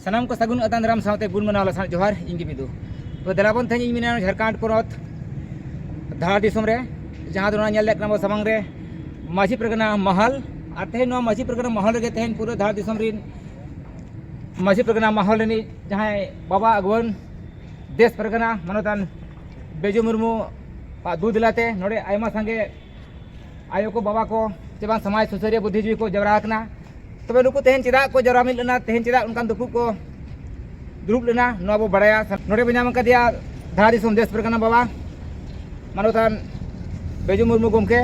ᱥᱟᱱᱟᱢ ᱠᱚ ᱥᱟᱹᱜᱩᱱ ᱟᱛᱟᱝ ᱫᱟᱨᱟᱢ ᱥᱟᱶᱛᱮ ᱜᱩᱱ ᱢᱟᱱᱟᱣ ᱞᱟᱥᱟᱲ ᱡᱚᱦᱟᱨ ᱤᱧ ᱜᱮ ᱵᱤᱫᱩ ᱛᱚ ᱫᱮᱞᱟᱵᱚᱱ ᱛᱮᱦᱮᱧ ᱤᱧ ᱢᱮᱱᱟ ᱡᱷᱟᱲᱠᱷᱚᱸᱰ ᱯᱚᱱᱚᱛ ᱫᱷᱟᱲᱟ ᱫᱤᱥᱚᱢ ᱨᱮ ᱡᱟᱦᱟᱸ ᱫᱚ ᱱᱚᱣᱟ ᱧᱮᱞ ᱫᱟᱲᱮᱭᱟᱜ ᱠᱟᱱᱟ ᱵᱚ ᱥᱟᱢᱟᱝ ᱨᱮ ᱢᱟᱹᱡᱷᱤ ᱯᱨᱚᱜᱱᱟ ᱢᱟᱦᱟᱞ ᱟᱨ ᱛᱮᱦᱮᱧ ᱱᱚᱣᱟ ᱢᱟᱹᱡᱷᱤ ᱯᱨᱚᱜᱱᱟ ᱢᱟᱦᱟᱞ ᱨᱮᱜᱮ ᱛᱮᱦᱮᱧ ᱯᱩᱨᱟᱹ ᱫᱷᱟᱲᱟ ᱫᱤᱥᱚᱢ ᱨᱤᱱ ᱢᱟᱹᱡᱷᱤ ᱯᱨᱚᱜᱱᱟ ᱢᱟᱦᱟᱞ ᱨᱤᱱᱤᱡ ᱡᱟᱦᱟᱸᱭ ᱵᱟᱵᱟ ᱟᱜᱩᱣᱟᱹᱱ ᱫᱮᱥ ᱯᱨᱚᱜᱱᱟ ᱢᱟᱱᱚᱛᱟᱱ ᱵᱮᱡᱩ ᱢᱩᱨᱢᱩ ᱟᱜ ᱫᱩ ᱫᱮᱞᱟᱛᱮ ᱱᱚᱰᱮ ᱟᱭᱢᱟ ᱥᱟᱸᱜᱮ ᱟᱭᱳ ᱠᱚ ᱵᱟᱵᱟ ᱠᱚ ᱥᱮ ᱵᱟᱝ ᱥᱚᱢᱟᱡᱽ ᱥᱩᱥᱟᱹᱨᱤᱭᱟᱹ ᱵᱩᱫᱽᱫᱷᱤᱡᱤᱵᱤ ᱠᱚ ᱡᱟᱣᱨᱟ ᱟᱠᱟᱱᱟ ᱛᱚᱵᱮ ᱱᱩᱠᱩ ᱛᱮᱦᱮᱧ ᱪᱮᱫᱟᱜ ᱠᱚ ᱡᱟᱣᱨᱟ ᱢᱤᱫ ᱞᱮᱱᱟ ᱛᱮᱦᱮᱧ ᱪᱮᱫᱟᱜ ᱚᱱᱠᱟᱱ ᱫᱩᱯᱩᱜ ᱠᱚ ᱫᱩᱲᱩᱵ ᱞᱮᱱᱟ ᱱᱚᱣᱟ ᱵᱚ ᱵᱟᱲᱟᱭᱟ ᱱᱚᱰᱮ ᱵᱚ ᱧᱟᱢ ᱟᱠᱟᱫᱮᱭᱟ ᱫᱷᱟᱨᱟ ᱫᱤᱥᱚᱢ ᱫᱮᱥ ᱯᱨᱮᱠᱟᱱᱟ ᱵᱟᱵᱟ ᱢᱟᱱᱚᱛᱟᱱ ᱵᱮᱡᱩ ᱢᱩᱨᱢᱩ ᱜᱚᱢᱠᱮ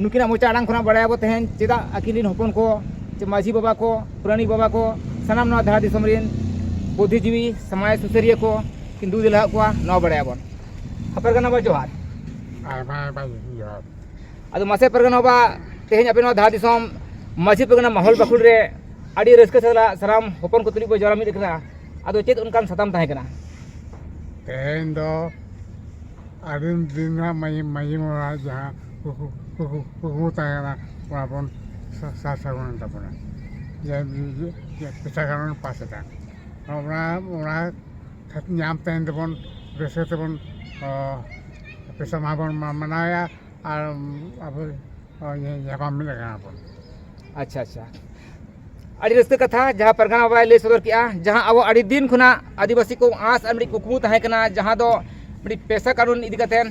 ᱱᱩᱠᱤᱱᱟᱜ ᱢᱚᱪᱟ ᱟᱲᱟᱝ ᱠᱷᱚᱱᱟᱜ ᱵᱟᱲᱟᱭᱟᱵᱚ ᱛᱮᱦᱮᱧ ᱪᱮᱫᱟᱜ ᱟᱹᱠᱤᱱ ᱨᱮᱱ ᱦᱚᱯᱚᱱ ᱠᱚ ᱪᱮ ᱢᱟᱹᱡᱷᱤ ᱵᱟᱵᱟ ᱠᱚ ᱯᱩᱨᱟᱱᱤᱠ ᱵᱟᱵᱟ ᱠᱚ ᱥᱟᱱᱟᱢ ᱱᱚᱣᱟ ᱫᱷᱟᱨᱟ ᱫᱤᱥᱚᱢ ᱨᱮᱱ ᱵᱩᱫᱽᱫᱷᱤᱡᱤᱵᱤ ᱥᱚᱢᱟᱡᱽ ᱥᱩᱥᱟᱹᱨᱤᱭᱟᱹ ᱠᱚ ᱠᱤᱱ ᱫᱩ ᱫᱮᱞᱟᱣᱟᱜ ᱠᱚᱣᱟ ᱱᱚᱣᱟ ᱵᱟᱲᱟᱭᱟᱵᱚᱱ ᱦᱟᱯᱮᱨ ᱠᱟᱱᱟ ᱵᱚ ᱡᱚᱦᱟᱨ ᱟᱭᱢᱟ ᱟᱭᱢᱟ ᱡᱚᱦᱟᱨ ᱟᱫᱚ ᱢᱟᱥᱮ ᱯᱟᱨᱜᱟᱱᱟ ᱵᱟᱵᱟ ᱛᱮᱦᱮᱧ ᱟᱯᱮ ᱱᱚᱣᱟ ᱫᱷᱟᱨ ᱫᱤᱥᱚᱢ ᱢᱟᱹᱡᱷᱤ ᱯᱟᱨᱜᱟᱱᱟ ᱢᱚᱦᱚᱞ ᱵᱟᱠᱷᱳᱞ ᱨᱮ ᱟᱹᱰᱤ ᱨᱟᱹᱥᱠᱟᱹ ᱥᱟᱞᱟᱜ ᱥᱟᱱᱟᱢ ᱦᱚᱯᱚᱱ ᱠᱚ ᱛᱩᱞᱩᱡ ᱵᱚ ᱡᱟᱣᱨᱟ ᱢᱤᱫ ᱟᱠᱟᱱᱟ ᱟᱫᱚ ᱪᱮᱫ ᱚᱱᱠᱟᱱ ᱥᱟᱛᱟᱢ ᱛᱟᱦᱮᱸ ᱠᱟᱱᱟ ᱛᱮᱦᱮᱧ ᱫᱚ ᱟᱹᱰᱤ ᱫᱤᱱ ᱨᱮᱱᱟᱜ ᱢᱟᱹᱡᱷᱤ ᱢᱟᱹᱡᱷᱤ ᱢᱚᱦᱚᱞ ᱡᱟᱦᱟᱸ ᱠᱩᱠᱢᱩ ᱛᱟᱦᱮᱸ ᱠᱟᱱᱟ ᱚᱱᱟ ᱵᱚᱱ ᱥᱟᱨ ᱥᱟᱹᱜᱩᱱᱮᱱ ᱛᱟᱵᱚᱱᱟ ᱡᱮ ᱯᱮᱪᱷᱟ ᱜᱟᱱ ᱵᱚᱱ ᱯᱟᱥ ᱮᱫᱟ ᱚᱱᱟ ᱚᱱᱟ ᱧᱟᱢ ᱛᱟᱭᱚᱢ ᱛᱮᱵᱚᱱ ᱨᱟᱹᱥᱠᱟᱹ ᱛᱮᱵᱚᱱ ᱯᱚᱭᱥᱟ ᱢᱟᱦᱟ ᱵᱚᱱ ᱢᱟᱱᱟᱣᱮᱭᱟ ᱟᱨ ᱟᱵᱚ ᱧᱟᱯᱟᱢ ᱢᱤᱫ ᱟᱠᱟᱱᱟ ᱵᱚᱱ ᱟᱪᱪᱷᱟ ᱟᱪᱪᱷᱟ ᱟᱹᱰᱤ ᱨᱟᱹᱥᱠᱟᱹ ᱠᱟᱛᱷᱟ ᱡᱟᱦᱟᱸ ᱯᱟᱨᱜᱟᱱᱟ ᱵᱟᱵᱟᱭ ᱞᱟᱹᱭ ᱥᱚᱫᱚᱨ ᱠᱮᱜᱼᱟ ᱡᱟᱦᱟᱸ ᱟᱵᱚ ᱟᱹᱰᱤ ᱫᱤᱱ ᱠᱷᱚᱱᱟᱜ ᱟᱹᱫᱤᱵᱟᱹᱥᱤ ᱠᱚ ᱟᱸᱥ ᱟᱨ ᱢᱤᱫ ᱠᱩᱠᱢᱩ ᱛᱟᱦᱮᱸ ᱠᱟᱱᱟ ᱡᱟᱦᱟᱸ ᱫᱚ ᱢᱤᱫ ᱯᱮᱥᱟ ᱠᱟᱹᱱᱩᱱ ᱤᱫᱤ ᱠᱟᱛᱮᱫ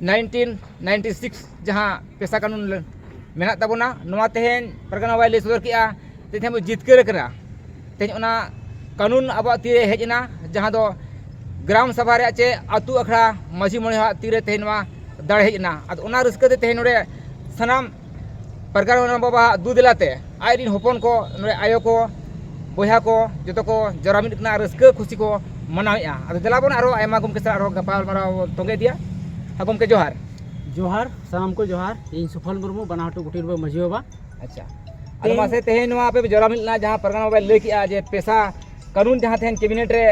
ᱱᱟᱭᱤᱱᱴᱤᱱ ᱱᱟᱭᱤᱱᱴᱤ ᱥᱤᱠᱥ ᱡᱟᱦᱟᱸ ᱯᱮᱥᱟ ᱠᱟᱹᱱᱩᱱ ᱢᱮᱱᱟᱜ ᱛᱟᱵᱚᱱᱟ ᱱᱚᱣᱟ ᱛᱮᱦᱮᱧ ᱯᱟᱨᱜᱟᱱᱟ ᱵᱟᱵᱟᱭ ᱞᱟᱹᱭ ᱥᱚᱫᱚᱨ ᱠᱮᱜᱼᱟ ᱛᱮᱦᱮᱧ ᱵᱚᱱ ᱡᱤᱛᱠᱟᱹᱨ ᱟᱠᱟᱱᱟ ᱛᱮᱦᱮᱧ ᱚᱱᱟ ᱠᱟᱹᱱᱩᱱ ᱟᱵᱚᱣᱟᱜ ᱛᱤ ᱨᱮ ᱦᱮᱡ ᱮᱱᱟ ᱡᱟᱦᱟᱸ ᱫᱚ ᱜᱨᱟᱢ ᱥᱚᱵᱷᱟ ᱨᱮᱭᱟᱜ ᱪᱮ ᱟᱹᱛᱩ ᱟᱠᱷᱲᱟ ᱢᱟᱹᱡᱷᱤ ᱢᱚᱬᱮ ᱦᱚᱲᱟᱜ ᱛᱤᱨᱮ ᱛᱮᱦᱮᱧ ᱱᱚᱣᱟ ᱫᱟᱲᱮ ᱦᱮᱡ ᱮᱱᱟ ᱟᱫᱚ ᱚᱱᱟ ᱨᱟᱹᱥᱠᱟᱹ ᱛᱮ ᱛᱮᱦᱮᱧ ᱱᱚᱰᱮ ᱥᱟᱱᱟᱢ ᱯᱨᱚᱜᱟᱲ ᱜᱚᱲᱚᱢ ᱵᱟᱵᱟᱣᱟᱜ ᱫᱩ ᱫᱮᱞᱟ ᱛᱮ ᱟᱡ ᱨᱮᱱ ᱦᱚᱯᱚᱱ ᱠᱚ ᱱᱚᱰᱮ ᱟᱭᱳ ᱠᱚ ᱵᱚᱭᱦᱟ ᱠᱚ ᱡᱚᱛᱚ ᱠᱚ ᱡᱟᱣᱨᱟ ᱢᱤᱫ ᱠᱟᱱᱟ ᱨᱟᱹᱥᱠᱟᱹ ᱠᱷᱩᱥᱤ ᱠᱚ ᱢᱟᱱᱟᱣᱮᱫᱼᱟ ᱟᱫᱚ ᱫᱮᱞᱟ ᱵᱚᱱ ᱟᱨᱚ ᱟᱭᱢᱟ ᱜᱚᱢᱠᱮ ᱥᱟᱞᱟᱜ ᱟᱨᱚ ᱜᱟᱯᱟᱞᱢᱟᱨᱟᱣ ᱵᱚᱱ ᱛᱚᱸᱜᱮ ᱤᱫᱤᱭᱟ ᱜᱚᱢᱠᱮ ᱡᱚᱦᱟᱨ ᱡᱚᱦᱟᱨ ᱥᱟᱱᱟᱢ ᱠᱚ ᱡᱚᱦᱟᱨ ᱤᱧ ᱥᱩᱯᱷᱚᱞ ᱢᱩᱨᱢᱩ ᱵᱟᱱᱟᱦᱚᱲ ᱜᱩᱴᱤ ᱨᱮᱱ ᱢᱟᱹᱡᱷᱤ ᱵᱟᱵᱟ ᱟᱪᱪᱷᱟ ᱟᱫᱚ ᱢᱟᱥᱮ ᱛᱮᱦᱮᱧ ᱱᱚᱣᱟ ᱟᱯᱮ ᱡᱚᱨᱟ ᱢᱤᱫ ᱞᱮᱱᱟ ᱡᱟᱦᱟᱸ ᱯᱟᱨᱜᱟᱱᱟ ᱵᱟᱵᱟᱭ ᱞᱟᱹᱭ ᱠᱮᱜᱼᱟ ᱡᱮ ᱯᱮᱥᱟ ᱠᱟᱹᱱᱩᱱ ᱡᱟᱦᱟᱸ ᱛᱮᱦᱮᱧ ᱠᱮᱵᱤᱱᱮᱴ ᱨᱮ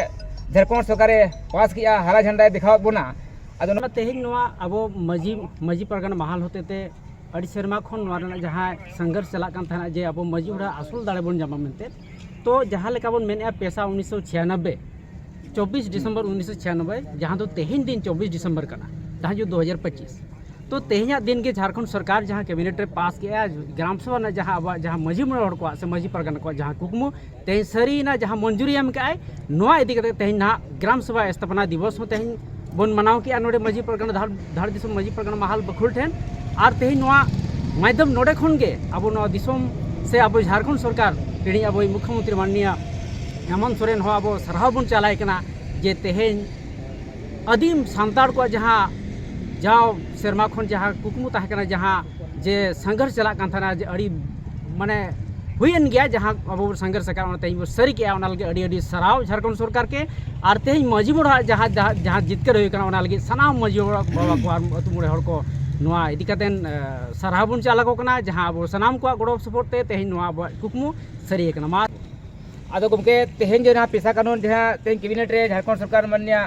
ᱡᱷᱟᱲᱠᱷᱚᱸᱰ ᱥᱚᱨᱠᱟᱨᱮ ᱯᱟᱥ ᱠᱮᱜᱼᱟ ᱦᱟᱨᱟ ᱡᱷᱟᱱᱰᱟᱭ ᱫᱮᱠᱷᱟᱣᱟᱫ ᱵᱚᱱᱟ ᱟᱫᱚ ᱱᱚᱣᱟ ᱛᱮᱦᱮᱧ ᱱᱚᱣᱟ ᱟᱵᱚ ᱢᱟᱹᱡᱷᱤ ᱢᱟᱹᱡᱷᱤ ᱯᱟᱨᱜᱟᱱᱟ ᱢᱟᱦᱟᱞ ᱦᱚᱛᱮᱛᱮ ᱟᱹᱰᱤ ᱥᱮᱨᱢᱟ ᱠᱷᱚᱱ ᱱᱚᱣᱟ ᱨᱮᱱᱟᱜ ᱡᱟᱦᱟᱸ ᱥᱚᱝᱜᱷᱚᱨᱥ ᱪᱟᱞᱟᱜ ᱠᱟᱱ ᱛᱟᱦᱮᱱᱟ ᱡᱮ ᱟᱵᱚ ᱢᱟᱹᱡᱷᱤ ᱚᱲᱟᱜ ᱟᱥᱚᱞ ᱫᱟᱲᱮ ᱵᱚᱱ ᱧᱟᱢᱟ ᱢᱮᱱᱛᱮ ᱛᱚ ᱡᱟᱦᱟᱸ ᱞᱮᱠᱟ ᱵᱚᱱ ᱢᱮᱱᱮᱫᱼᱟ ᱯᱮᱥᱟ ᱩᱱᱤᱥᱥᱚ ᱪᱷᱤᱭᱟᱱᱚᱵᱵᱮ ᱪᱚᱵᱵᱤᱥ ᱰᱤᱥᱮᱢᱵᱚᱨ ᱩᱱᱤᱥᱥᱚ ᱪᱷᱤᱭᱟᱱᱚᱵᱵᱮ ᱡᱟᱦᱟᱸ ᱫᱚ ᱛᱮᱦᱮᱧ ᱫᱤᱱ ᱪᱚᱵᱵᱤᱥ ᱰᱤᱥᱮᱢᱵᱚᱨ ᱠᱟᱱᱟ ᱡᱟᱦᱟᱸ ᱡᱩᱜᱽ ᱫᱩ ᱦᱟᱡᱟᱨ ᱯᱚᱸᱪᱤᱥ ᱛᱚ ᱛᱮᱦᱮᱧᱟᱜ ᱫᱤᱱ ᱜᱮ ᱡᱷᱟᱲᱠᱷᱚᱸᱰ ᱥᱚᱨᱠᱟᱨ ᱡᱟᱦᱟᱸ ᱠᱮᱵᱤᱱᱮᱴ ᱨᱮ ᱯᱟᱥ ᱠᱮᱫᱼᱟ ᱜᱨᱟᱢ ᱥᱚᱵᱷᱟ ᱨᱮᱱᱟᱜ ᱡᱟᱦᱟᱸ ᱟᱵᱚᱣᱟᱜ ᱡᱟᱦᱟᱸ ᱢᱟᱺᱡᱷᱤ ᱢᱚᱬᱮ ᱦᱚᱲ ᱠᱚᱣᱟᱜ ᱥᱮ ᱢᱟᱺᱡᱷᱤ ᱯᱟᱨᱜᱟᱱᱟ ᱠᱚᱣᱟᱜ ᱡᱟᱦᱟᱸ ᱠᱩᱠᱢᱩ ᱛᱮᱦᱮᱧ ᱥᱟᱹᱨᱤᱭᱮᱱᱟ ᱡᱟᱦᱟᱸ ᱢᱚᱧᱡᱩᱨᱤ ᱮᱢ ᱠᱟᱜᱼᱟᱭ ᱱᱚᱣᱟ ᱤᱫᱤ ᱠᱟᱛᱮ ᱛᱮᱦᱮᱧ ᱱᱟᱦᱟᱜ ᱜᱨᱟᱢ ᱥᱚᱵᱷᱟ ᱥᱛᱷᱟᱯᱚᱱᱟ ᱫᱤᱵᱚᱥ ᱦᱚᱸ ᱛᱮᱦᱮᱧ ᱵᱚᱱ ᱢᱟᱱᱟᱣ ᱠᱮᱜᱼᱟ ᱱᱚᱰᱮ ᱢᱟᱹᱡᱷᱤ ᱯᱟᱨᱜᱟᱱᱟ ᱫᱷᱟᱲ ᱫᱷᱟᱲ ᱫᱤᱥᱚᱢ ᱢᱟᱹᱡᱷᱤ ᱯᱟᱨᱜᱟᱱᱟ ᱢᱟᱦᱟᱞ ᱵᱟᱹᱠᱷᱩᱞ ᱴᱷᱮᱱ ᱟᱨ ᱛᱮᱦᱮᱧ ᱱᱚᱣᱟ ᱢᱟᱫᱽᱫᱷᱚᱢ ᱱᱚᱰᱮ ᱠᱷᱚᱱ ᱜᱮ ᱟᱵᱚ ᱱᱚᱣᱟ ᱫᱤᱥᱚᱢ ᱥᱮ ᱟᱵᱚ ᱡᱷᱟᱲᱠᱷᱚᱸᱰ ᱥᱚᱨᱠᱟᱨ ᱨᱤᱱᱤᱡ ᱟᱵᱚ ᱢᱩᱠᱷᱭᱚ ᱢᱚᱱᱛᱨᱤ ᱢᱟᱱᱱᱤᱭᱟ ᱦᱮᱢᱚᱱᱛ ᱥᱚᱨᱮᱱ ᱦᱚᱸ ᱟᱵᱚ ᱥᱟᱨᱦᱟᱣ ᱵᱚᱱ ᱪᱟᱞᱟᱭ ᱠᱟᱱᱟ ᱡᱮ ᱛᱮᱦᱮᱧ ᱟᱹᱫᱤᱢ ᱥᱟᱱᱛᱟᱲ ᱠᱚᱣᱟᱜ ᱡᱟᱦᱟᱸ ᱡᱟᱣ ᱥᱮᱨᱢᱟ ᱠᱷᱚᱱ ᱡᱟᱦᱟᱸ ᱠᱩᱠᱢᱩ ᱛᱟᱦᱮᱸ ᱠᱟᱱᱟ ᱡᱟᱦᱟᱸ ᱡᱮ ᱥᱟᱸᱜᱷᱟᱨ ᱪᱟᱞᱟᱜ ᱠᱟᱱ ᱛᱟᱦᱮᱱᱟ ᱡᱮ ᱟᱹᱰᱤ ᱢᱟᱱᱮ ᱦᱩᱭᱮᱱ ᱜᱮᱭᱟ ᱡᱟᱦᱟᱸ ᱟᱵᱚ ᱵᱚᱱ ᱥᱟᱸᱜᱷᱟᱨ ᱟᱠᱟᱫ ᱚᱱᱟ ᱛᱮᱦᱮᱧ ᱵᱚᱱ ᱥᱟᱹᱨᱤ ᱠᱮᱜᱼᱟ ᱚᱱᱟ ᱞᱟᱹᱜᱤᱫ ᱟᱹᱰᱤ ᱟᱹᱰᱤ ᱥᱟᱨᱦᱟᱣ ᱡᱷᱟᱲᱠᱷᱚᱸᱰ ᱥᱚᱨᱠᱟᱨ ᱠᱮ ᱟᱨ ᱛᱮᱦᱮᱧ ᱢᱟᱹᱡᱷᱤ ᱵᱩᱲᱦᱤ ᱟᱜ ᱡᱟᱦᱟᱸ ᱡᱟᱦᱟᱸ ᱡᱤᱛᱠᱟᱹᱨ ᱦᱩᱭ ᱠᱟᱱᱟ ᱚᱱᱟ ᱞᱟᱹᱜᱤᱫ ᱥᱟᱱᱟᱢ ᱢᱟᱹᱡᱷᱤ ᱵᱟᱵᱟ ᱠᱚ ᱟᱨ ᱟᱹᱛᱩ ᱢᱚᱬᱮ ᱦᱚᱲ ᱠᱚ ᱱᱚᱣᱟ ᱤᱫᱤ ᱠᱟᱛᱮ ᱥᱟᱨᱦᱟᱣ ᱵᱚᱱ ᱪᱟᱞ ᱟᱠᱚ ᱠᱟᱱᱟ ᱡᱟᱦᱟᱸ ᱟᱵᱚ ᱥᱟᱱᱟᱢ ᱠᱚᱣᱟᱜ ᱜᱚᱲᱚ ᱥᱚᱯᱚᱦᱚᱫ ᱛᱮ ᱛᱮᱦᱮᱧ ᱱᱚᱣᱟ ᱟᱵᱚᱣᱟᱜ ᱠᱩᱠᱢᱩ ᱥᱟᱹᱨᱤ ᱟᱠᱟᱱᱟ ᱢᱟ ᱟᱫᱚ ᱜᱚᱢᱠᱮ ᱛᱮᱦᱮᱧ ᱡᱟᱦᱟᱸ ᱯᱮᱥᱟ ᱠᱟᱹᱱᱩᱱ ᱡᱟᱦᱟᱸ ᱛᱮᱦᱮᱧ ᱠᱮᱵᱤᱱᱮᱴ ᱨᱮ ᱡᱷᱟᱲᱠᱷᱚᱸᱰ ᱥᱚᱨᱠᱟᱨ ᱢᱟᱱᱱᱤᱭᱟ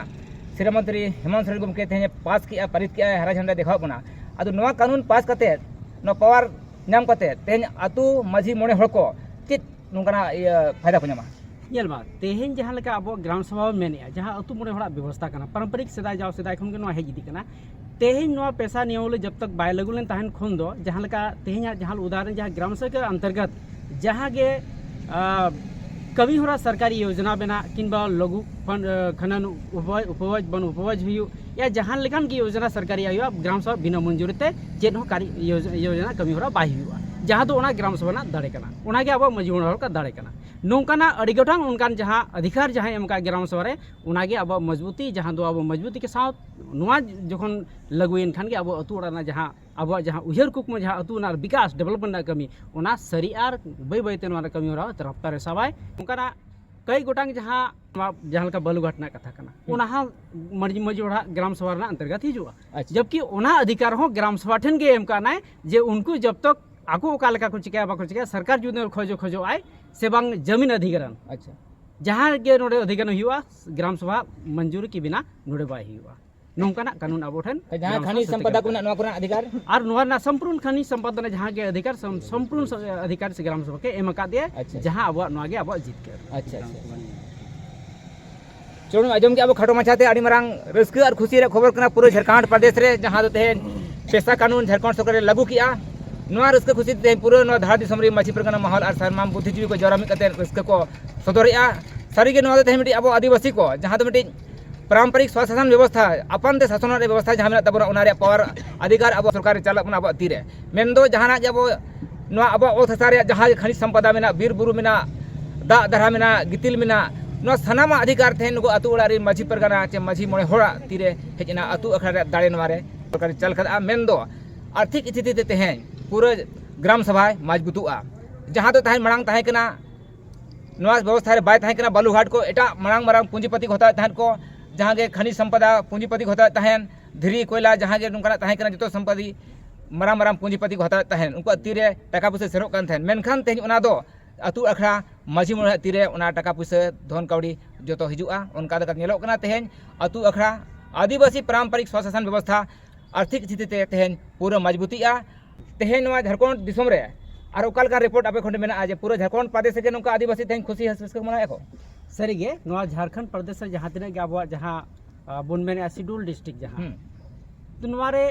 ᱥᱤᱨᱟᱹ ᱢᱚᱱᱛᱨᱤ ᱦᱮᱢᱚᱱᱛ ᱥᱚᱨᱮᱱ ᱜᱚᱢᱠᱮ ᱛᱮᱦᱮᱧ ᱯᱟᱥ ᱠᱮᱜᱼᱟ ᱯᱟᱹᱨᱤᱛ ᱠᱮᱜᱼᱟᱭ ᱦᱟᱨᱟ ᱡᱷᱮᱱᱰᱟᱭ ᱫᱮᱠᱷᱟᱣᱟᱜ ᱵᱚᱱᱟ ᱟᱫᱚ ᱱᱚᱣᱟ ᱠᱟᱹᱱᱩᱱ ᱯᱟᱥ ᱠᱟᱛᱮ ᱱᱚᱣᱟ ᱯᱟᱣᱟᱨ ᱧᱟᱢ ᱠᱟᱛᱮ ᱛᱮᱦᱮᱧ ᱟᱛᱳ ᱢᱟᱹᱡᱷᱤ ᱢᱚᱬᱮ ᱦᱚᱲ ᱠᱚ ᱪᱮᱫ ᱱᱚᱝᱠᱟᱱᱟᱜ ᱤᱭᱟᱹ ᱯᱷᱟᱭᱫᱟ ᱠᱚ ᱧᱟᱢᱟ ᱧᱮᱞ ᱢᱟ ᱛᱮᱦᱮᱧ ᱡᱟᱦᱟᱸ ᱞᱮᱠᱟ ᱟᱵᱚ ᱜᱨᱟᱢ ᱥᱚᱵᱷᱟ ᱵᱚᱱ ᱢᱮᱱᱮᱜᱼᱟ ᱡᱟᱦᱟᱸ ᱟᱛᱳ ᱢᱚᱬᱮ ᱦᱚᱲᱟᱜ ᱵᱮᱵᱚᱥᱛᱟ ᱠᱟᱱᱟ ᱯᱟᱨᱚᱢᱯᱚᱨᱤᱠ ᱥᱮᱫᱟᱭ ᱡᱟᱣ ᱥᱮᱫᱟᱭ ᱠᱷᱚᱱ ᱜᱮ ᱱᱚᱣᱟ ᱦᱮᱡ ᱤᱫᱤᱜ ᱠᱟᱱᱟ ᱛᱮᱦᱮᱧ ᱱᱚᱣᱟ ᱯᱮᱥᱟ ᱱᱤᱭᱚᱢ ᱡᱚᱵ ᱛᱚᱠ ᱵᱟᱭ ᱞᱟᱹᱜᱩ ᱞᱮᱱ ᱛᱟᱦᱮᱱ ᱠᱷᱚᱱ ᱫᱚ ᱡᱟᱦᱟᱸ ᱞᱮᱠᱟ ᱛᱮᱦᱮᱧᱟᱜ ᱡᱟᱦᱟᱸ ᱩᱫᱟᱦᱚᱨᱚᱱ ᱡᱟᱦᱟᱸ ᱜᱨᱟᱢ ᱥᱮᱵᱚᱠ ᱚᱱᱛᱚᱨᱜᱚᱛ ᱡᱟᱦᱟᱸ ᱜᱮ ᱠᱟᱹᱢᱤ ᱦᱚᱨᱟ ᱥᱚᱨᱠᱟᱨᱤ ᱭᱳᱡᱚᱱᱟ ᱵᱮᱱᱟᱜ ᱠᱤᱝᱵᱟ ᱞᱚᱜᱷᱩ ᱠᱷᱟᱱᱟᱱ ᱩᱯᱚᱵᱚᱡᱽ ᱵᱚᱱ ᱩᱯᱚᱵᱚᱡᱽ ᱦᱩᱭᱩᱜ ᱭᱟ ᱡᱟᱦᱟᱸ ᱞᱮᱠᱟᱱ ᱜᱮ ᱭᱳᱡᱚᱱᱟ ᱥᱚᱨᱠᱟᱨᱤ ᱦᱩᱭᱩᱜᱼᱟ ᱜᱨᱟᱢ ᱥᱚᱵᱷᱟ ᱵᱤᱱᱟᱹ ᱢᱚᱧᱡᱩᱨᱤ ᱛᱮ ᱪᱮᱫ ᱦᱚᱸ ᱠᱟᱨᱤ ᱭᱳᱡᱚᱱᱟ ᱠᱟᱹᱢᱤ ᱦᱚᱨᱟ ᱵᱟᱭ ᱦᱩᱭᱩᱜᱼᱟ ᱡᱟᱦᱟᱸ ᱫᱚ ᱚᱱᱟ ᱜᱨᱟᱢ ᱥᱚᱵᱷᱟ ᱨᱮᱱᱟᱜ ᱫᱟᱲᱮ ᱠᱟᱱᱟ ᱚᱱᱟ ᱜᱮ ᱟᱵᱚᱣᱟᱜ ᱢᱟᱹᱡᱷᱤ ᱢᱚᱬᱮ ᱦᱚᱲ ᱠᱚᱣᱟᱜ ᱫᱟᱲᱮ ᱠᱟᱱᱟ ᱱᱚᱝᱠᱟᱱᱟᱜ ᱟᱹᱰᱤ ᱜᱚᱴᱟᱝ ᱚᱱᱠᱟᱱ ᱡᱟᱦᱟᱸ ᱚᱫᱷᱤᱠᱟᱨ ᱡᱟᱦᱟᱸᱭ ᱮᱢ ᱟᱠᱟᱫ ᱜᱨᱟᱢ ᱥᱚᱵᱷᱟ ᱨᱮ ᱚᱱᱟ ᱜᱮ ᱟᱵᱚᱣᱟᱜ ᱢᱚᱡᱽᱵᱩᱛᱤ ᱡᱟᱦᱟᱸ ᱫᱚ ᱟᱵᱚ ᱢᱚᱡᱽᱵᱩᱛᱤ ᱠᱮ ᱥᱟᱛᱷ ᱱᱚᱣᱟ ᱡᱚᱠᱷᱚᱱ ᱞᱟᱹᱜᱩᱭᱮᱱ ᱠᱷᱟᱱ ᱜᱮ ᱟᱵᱚ ᱟᱛᱳ ᱚᱲᱟᱜ ᱨᱮᱱᱟᱜ ᱡᱟᱦᱟᱸ ᱟᱵᱚᱣᱟᱜ ᱡᱟᱦᱟᱸ ᱩᱭᱦᱟᱹᱨ ᱠᱩᱠᱢᱩ ᱡᱟᱦᱟᱸ ᱟᱹᱛᱩ ᱨᱮᱱᱟᱜ ᱵᱤᱠᱟᱥ ᱰᱮᱵᱷᱞᱚᱯᱢᱮᱱᱴ ᱨᱮᱱᱟᱜ ᱠᱟᱹᱢᱤ ᱚᱱᱟ ᱥᱟᱹᱨᱤ ᱟᱨ ᱵᱟᱹᱭ ᱵᱟᱹᱭᱛᱮ ᱱᱚᱣᱟ ᱨᱮ ᱠᱟᱹᱢᱤ ᱦᱚᱨᱟ ᱨᱟᱯᱛᱟ ᱨᱮ ᱥᱟᱵᱟᱭ ᱚᱱᱠᱟᱱᱟᱜ ᱠᱟᱹᱭ ᱜᱚᱴᱟᱝ ᱡᱟᱦᱟᱸ ᱱᱚᱣᱟ ᱡᱟᱦᱟᱸ ᱞᱮᱠᱟ ᱵᱟᱞᱩᱜᱷᱟᱴ ᱨᱮᱱᱟᱜ ᱠᱟᱛᱷᱟ ᱠᱟᱱᱟ ᱚᱱᱟ ᱦᱚᱸ ᱢᱟᱹᱡᱷᱤ ᱢᱟᱹᱡᱷᱤ ᱚᱲᱟᱜ ᱜᱨᱟᱢ ᱥᱚᱵᱷᱟ ᱨᱮᱱᱟᱜ ᱚᱱᱛᱚᱨᱜᱚᱛ ᱦᱤᱡᱩᱜᱼᱟ ᱡᱚᱵᱠᱤ ᱚᱱᱟ ᱚᱫᱷᱤᱠᱟᱨ ᱦᱚᱸ ᱜᱨᱟᱢ ᱥᱚᱵᱷᱟ ᱴᱷᱮᱱ ᱜᱮ ᱮᱢ ᱠᱟᱱᱟᱭ ᱡᱮ ᱩᱱᱠᱩ ᱡᱚᱵ ᱛᱚᱠ ᱟᱠᱚ ᱚᱠᱟ ᱞᱮᱠᱟ ᱠᱚ ᱪᱤᱠᱟᱹᱭᱟ ᱵᱟᱠᱚ ᱪᱤᱠᱟᱹᱭᱟ ᱥᱚᱨᱠᱟᱨ ᱡᱩᱫᱤ ᱠᱷᱚᱡᱚ ᱠᱷᱚᱡᱚᱜ ᱟᱭ ᱥᱮ ᱵᱟᱝ ᱡᱟᱢᱤᱱ ᱚᱫᱷᱤᱠᱟᱨ ᱟᱪᱪᱷᱟ ᱡᱟᱦᱟᱸ ᱜᱮ ᱱᱚᱰᱮ ᱚᱫᱷᱤᱠᱟᱨ ᱦᱩᱭᱩᱜᱼᱟ ᱜᱨᱟᱢ ᱥᱚᱵᱷᱟ ᱢᱚᱧᱡᱩᱨ ᱠᱤ ᱵᱤᱱᱟ ᱱᱚᱰᱮ ᱵᱟᱭ ᱦᱩᱭᱩᱜᱼᱟ ᱱᱚᱝᱠᱟᱱᱟᱜ ᱠᱟᱹᱱᱩᱱ ᱟᱵᱚ ᱴᱷᱮᱱ ᱡᱟᱦᱟᱸ ᱠᱷᱟᱱᱤ ᱥᱚᱢᱯᱚᱫᱟ ᱠᱚ ᱢᱮᱱᱟᱜ ᱱᱚᱣᱟ ᱠᱚᱨᱮᱱᱟᱜ ᱟᱫᱷᱤᱠᱟᱨ ᱟᱨ ᱱᱚᱣᱟ ᱨᱮᱱᱟᱜ ᱥᱚᱢᱯᱩᱨᱱ ᱠᱷᱟᱱᱤ ᱥᱚᱢᱯᱚᱫᱟ ᱡᱟᱦᱟᱸ ᱜᱮ ᱟᱫᱷᱤᱠᱟᱨ ᱥᱚᱢᱯᱩᱨᱱ ᱟᱫᱷᱤᱠᱟᱨ ᱥᱮ ᱜᱨᱟᱢ ᱥᱚᱵᱷᱟ ᱠᱮ ᱮᱢ ᱟᱠᱟᱫ ᱫᱮᱭᱟ ᱡᱟᱦᱟᱸ ᱟᱵᱚᱣᱟᱜ ᱱᱚᱣᱟ ᱜᱮ ᱟᱵᱚᱣᱟᱜ ᱡᱤᱛᱠᱟᱹᱨ ᱟᱪᱪᱷᱟ ᱟᱪᱪᱷᱟ ᱪᱚᱞᱩᱱ ᱟᱸᱡᱚᱢ ᱜᱮ ᱟᱵᱚ ᱠᱷᱟᱴᱚ ᱢᱟᱪᱷᱟᱛᱮ ᱟᱹᱰᱤ ᱢᱟᱨᱟᱝ ᱨᱟᱹᱥᱠᱟᱹ ᱟᱨ ᱠᱷᱩᱥᱤ ᱨᱮ ᱠᱷᱚᱵᱚᱨ ᱠᱟᱱᱟ ᱯᱩᱨᱟᱹ ᱡᱷᱟᱨᱠᱷᱚᱸᱰ ᱯᱨᱚᱫᱮᱥ ᱨᱮ ᱡᱟᱦᱟᱸ ᱫᱚ ᱛᱮᱦᱮᱧ ᱯᱮᱥᱟ ᱠᱟᱹᱱᱩᱱ ᱡᱷᱟᱨᱠᱷᱚᱸᱰ ᱥᱚᱨᱠᱟᱨ ᱨᱮ ᱞᱟᱹᱜᱩ ᱠᱮᱜᱼᱟ ᱱᱚᱣᱟ ᱨᱟᱹᱥᱠᱟᱹ ᱠᱷᱩᱥᱤ ᱛᱮᱦᱮᱧ ᱯᱩᱨᱟᱹ ᱱᱚᱣᱟ ᱫᱷᱟᱨᱟ ᱫᱤᱥᱚᱢ ᱨᱮ ᱢᱟᱹᱡᱷᱤ ᱯᱟᱨᱜᱟᱱᱟ ᱢᱚᱦᱚᱞ ᱟᱨ ᱥᱟᱨᱢᱟᱢ ᱵᱩᱫᱽᱫᱷᱤᱡᱤᱵᱤ ᱠᱚ ᱡᱟᱣᱨᱟ ᱢᱤᱫ ᱠᱟᱛᱮ ᱨᱟᱹᱥᱠᱟᱹ ᱠᱚ ᱥᱚᱫᱚᱨᱮᱜᱼᱟ ᱥᱟᱹᱨᱤᱜᱮ ᱱᱚᱣᱟ ᱫᱚ ᱛᱮᱦᱮᱧ ᱢᱤᱫᱴᱤᱡ ᱟᱵᱚ ᱟᱹᱫᱤᱵᱟᱹᱥᱤ ᱠᱚ ᱡᱟᱦᱟᱸ ᱫᱚ ᱢᱤᱫᱴᱤᱡ ᱯᱟᱨᱚᱢᱯᱚᱨᱤᱠ ᱥᱚᱼᱥᱟᱥᱚᱱ ᱵᱮᱵᱚᱥᱛᱷᱟ ᱟᱯᱟᱱ ᱛᱮ ᱥᱟᱥᱚᱱᱚᱜ ᱨᱮᱭᱟᱜ ᱵᱮᱵᱚᱥᱛᱷᱟ ᱡᱟᱦᱟᱸ ᱢᱮᱱᱟᱜ ᱛᱟᱵᱚᱱᱟ ᱚᱱᱟ ᱨᱮᱭᱟᱜ ᱯᱟᱣᱟᱨ ᱚᱫᱷᱤᱠᱟᱨ ᱟᱵᱚ ᱥᱚᱨᱠᱟᱨ ᱨᱮ ᱪᱟᱞᱟᱜ ᱠᱟᱱᱟ ᱟᱵᱚᱣᱟᱜ ᱛᱤ ᱨᱮ ᱢᱮᱱᱫᱚ ᱡᱟᱦᱟᱱᱟᱜ ᱜᱮ ᱟᱵᱚ ᱱᱚᱣᱟ ᱟᱵᱚᱣᱟᱜ ᱚᱛ ᱦᱟᱥᱟ ᱨᱮᱭᱟᱜ ᱡᱟᱦᱟᱸ ᱜᱮ ᱠᱷᱟᱱᱤᱡᱽ ᱥᱚᱢᱯᱚᱫᱟ ᱢᱮᱱᱟᱜ ᱵᱤᱨᱼᱵᱩᱨᱩ ᱢᱮᱱᱟᱜ ᱫᱟᱜ ᱫᱷᱟᱨᱟ ᱢᱮᱱᱟᱜ ᱜᱤᱛᱤᱞ ᱢᱮᱱᱟᱜ ᱱᱚᱣᱟ ᱥᱟᱱᱟᱢᱟᱜ ᱚᱫᱷᱤᱠᱟᱨ ᱛᱮᱦᱮᱧ ᱱᱩᱠᱩ ᱟᱛᱳ ᱚᱲᱟᱜ ᱨᱮᱱ ᱢᱟᱹᱡᱷᱤ ᱯᱟᱨᱜᱟᱱᱟ ᱪᱮ ᱢᱟᱹᱡᱷᱤ ᱢᱚᱬᱮ ᱦᱚᱲᱟᱜ ᱛᱤ ᱨᱮ ᱦᱮᱡ ᱮᱱᱟ ᱟᱛᱳ ᱟᱠᱷᱲᱟ ᱨᱮᱭᱟᱜ ᱫᱟᱲᱮ ᱱᱚᱣᱟ ᱨᱮ ᱥᱚᱨᱠᱟᱨ ᱨᱮ ᱪᱟᱞ ᱠᱟᱫᱟ ᱢᱮᱱᱫᱚ ᱟᱨᱛᱷᱤᱠ ᱥᱛᱷᱤᱛᱤ ᱛᱮ ᱛᱮᱦᱮᱧ ᱯᱩᱨᱟᱹ ᱜᱨᱟᱢ ᱥᱚᱵᱷᱟᱭ ᱢᱚᱡᱽᱵᱩᱛᱩᱜᱼᱟ ᱡᱟᱦᱟᱸ ᱫᱚ ᱛᱟᱦᱮᱸᱫ ᱢᱟᱲᱟᱝ ᱛᱟᱦᱮᱸ ᱠᱟᱱᱟ ᱱᱚᱣᱟ ᱵᱮᱵᱚᱥᱛᱷᱟ ᱨᱮ ᱵᱟᱭ ᱛᱟᱦᱮᱸ ᱠᱟᱱᱟ ᱵᱟᱞᱩᱜᱷᱟᱴ ᱠᱚ ᱮᱴᱟᱜ ᱢᱟᱨᱟᱝ ᱢᱟᱨᱟᱝ ᱯᱩᱸᱡᱤᱯᱟᱹᱛᱤ ᱠᱚ ᱦᱟᱛᱟᱣᱮᱫ ᱛᱟᱦᱮᱸᱫ ᱠᱚ ᱡᱟᱦᱟᱸ ᱜᱮ ᱠᱷᱟᱱᱤᱡᱽ ᱥᱚᱢᱯᱚᱫᱟ ᱯᱩᱸᱡᱤᱯᱟᱹᱛᱤ ᱠᱚ ᱦᱟᱛᱟᱣᱮᱫ ᱛᱟᱦᱮᱸᱫ ᱫᱷᱤᱨᱤ ᱠᱚᱭᱞᱟ ᱡᱟᱦᱟᱸ ᱜᱮ ᱱᱚᱝᱠᱟᱱᱟᱜ ᱛᱟᱦᱮᱸ ᱠᱟᱱᱟ ᱡᱚᱛᱚ ᱥᱚᱢᱯᱚᱛᱤ ᱢᱟᱨᱟᱝ ᱢᱟᱨᱟᱝ ᱯᱩᱸᱡᱤᱯᱟᱹᱛᱤ ᱠᱚ ᱦᱟᱛᱟᱣᱮᱫ ᱛᱟᱦᱮᱸᱫ ᱩᱱᱠᱩᱣᱟᱜ ᱛᱤ ᱨᱮ ᱴᱟᱠᱟ ᱯᱩᱭᱥᱟᱹ ᱥᱮᱱᱚᱜ ᱠᱟᱱ ᱛᱟᱦᱮᱸᱫ ᱢᱮᱱᱠᱷᱟᱱ ᱛᱮᱦᱮᱧ ᱚᱱᱟ ᱫᱚ ᱟᱹᱛᱩ ᱟᱠᱷᱲᱟ ᱢᱟᱹᱡᱷᱤ ᱢᱚᱬᱮ ᱦᱚᱲᱟᱜ ᱛᱤ ᱨᱮ ᱚᱱᱟ ᱴᱟᱠᱟ ᱯᱩᱭᱥᱟᱹ ᱫᱷᱚᱱ ᱠᱟᱹᱣᱰᱤ ᱡᱚᱛᱚ ᱦᱤᱡᱩᱜᱼᱟ ᱚᱱᱠᱟ ᱞᱮᱠᱟ ᱧᱮᱞᱚᱜ ᱠᱟᱱᱟ ᱛᱮᱦᱮᱧ ᱟᱹᱛᱩ ᱟᱠᱷᱲᱟ ᱟᱹᱫᱤᱵᱟᱹᱥᱤ ᱯᱟᱨᱟᱢᱯᱟᱨᱤᱠ ᱥᱚᱼᱥᱟᱥᱚᱱ ᱵᱮᱵᱚᱥᱛᱷᱟ ᱟᱨᱛᱷᱤᱠ ᱥᱛᱷᱤᱛᱤ ᱛᱮ ᱛᱮᱦᱮᱧ ᱯᱩᱨᱟᱹ ᱢᱚᱡᱽᱵᱩᱛᱤᱜᱼᱟ ᱛᱮᱦᱮᱧ ᱱᱚᱣᱟ ᱡᱷᱟᱲᱠᱷᱚᱸᱰ ᱫᱤᱥᱚᱢ ᱨᱮ ᱟᱨ ᱚᱠᱟ ᱞᱮᱠᱟ ᱨᱤᱯᱳᱨᱴ ᱟᱯᱮ ᱠᱷᱚᱱ ᱢᱮᱱᱟᱜᱼᱟ ᱡᱮ ᱯᱩᱨᱟᱹ ᱡᱷᱟᱲᱠᱷᱚᱸᱰ ᱯᱨᱚᱫᱮᱥ ᱨᱮᱜᱮ ᱱᱚᱝᱠᱟ ᱟᱹᱫᱤᱵᱟᱹᱥᱤ ᱛᱮᱦᱮᱧ ᱠᱷᱩᱥᱤ ᱨᱟᱹᱥᱠᱟᱹ ᱢᱟᱱᱟᱣᱮᱫ ᱠᱚ ᱥᱟᱹᱨᱤᱜᱮ ᱱᱚᱣᱟ ᱡᱷᱟᱲᱠᱷᱚᱸᱰ ᱯᱨᱚᱫᱮᱥ ᱨᱮ ᱡᱟᱦᱟᱸ ᱛᱤᱱᱟᱹᱜ ᱜᱮ ᱟᱵᱚᱣᱟᱜ ᱡᱟᱦᱟᱸ ᱵᱚᱱ ᱢᱮᱱᱮᱫᱼᱟ ᱥᱤᱰᱩᱞ ᱰᱤᱥᱴᱨᱤᱠ ᱡᱟᱦᱟᱸ ᱛᱚ ᱱᱚᱣᱟ ᱨᱮ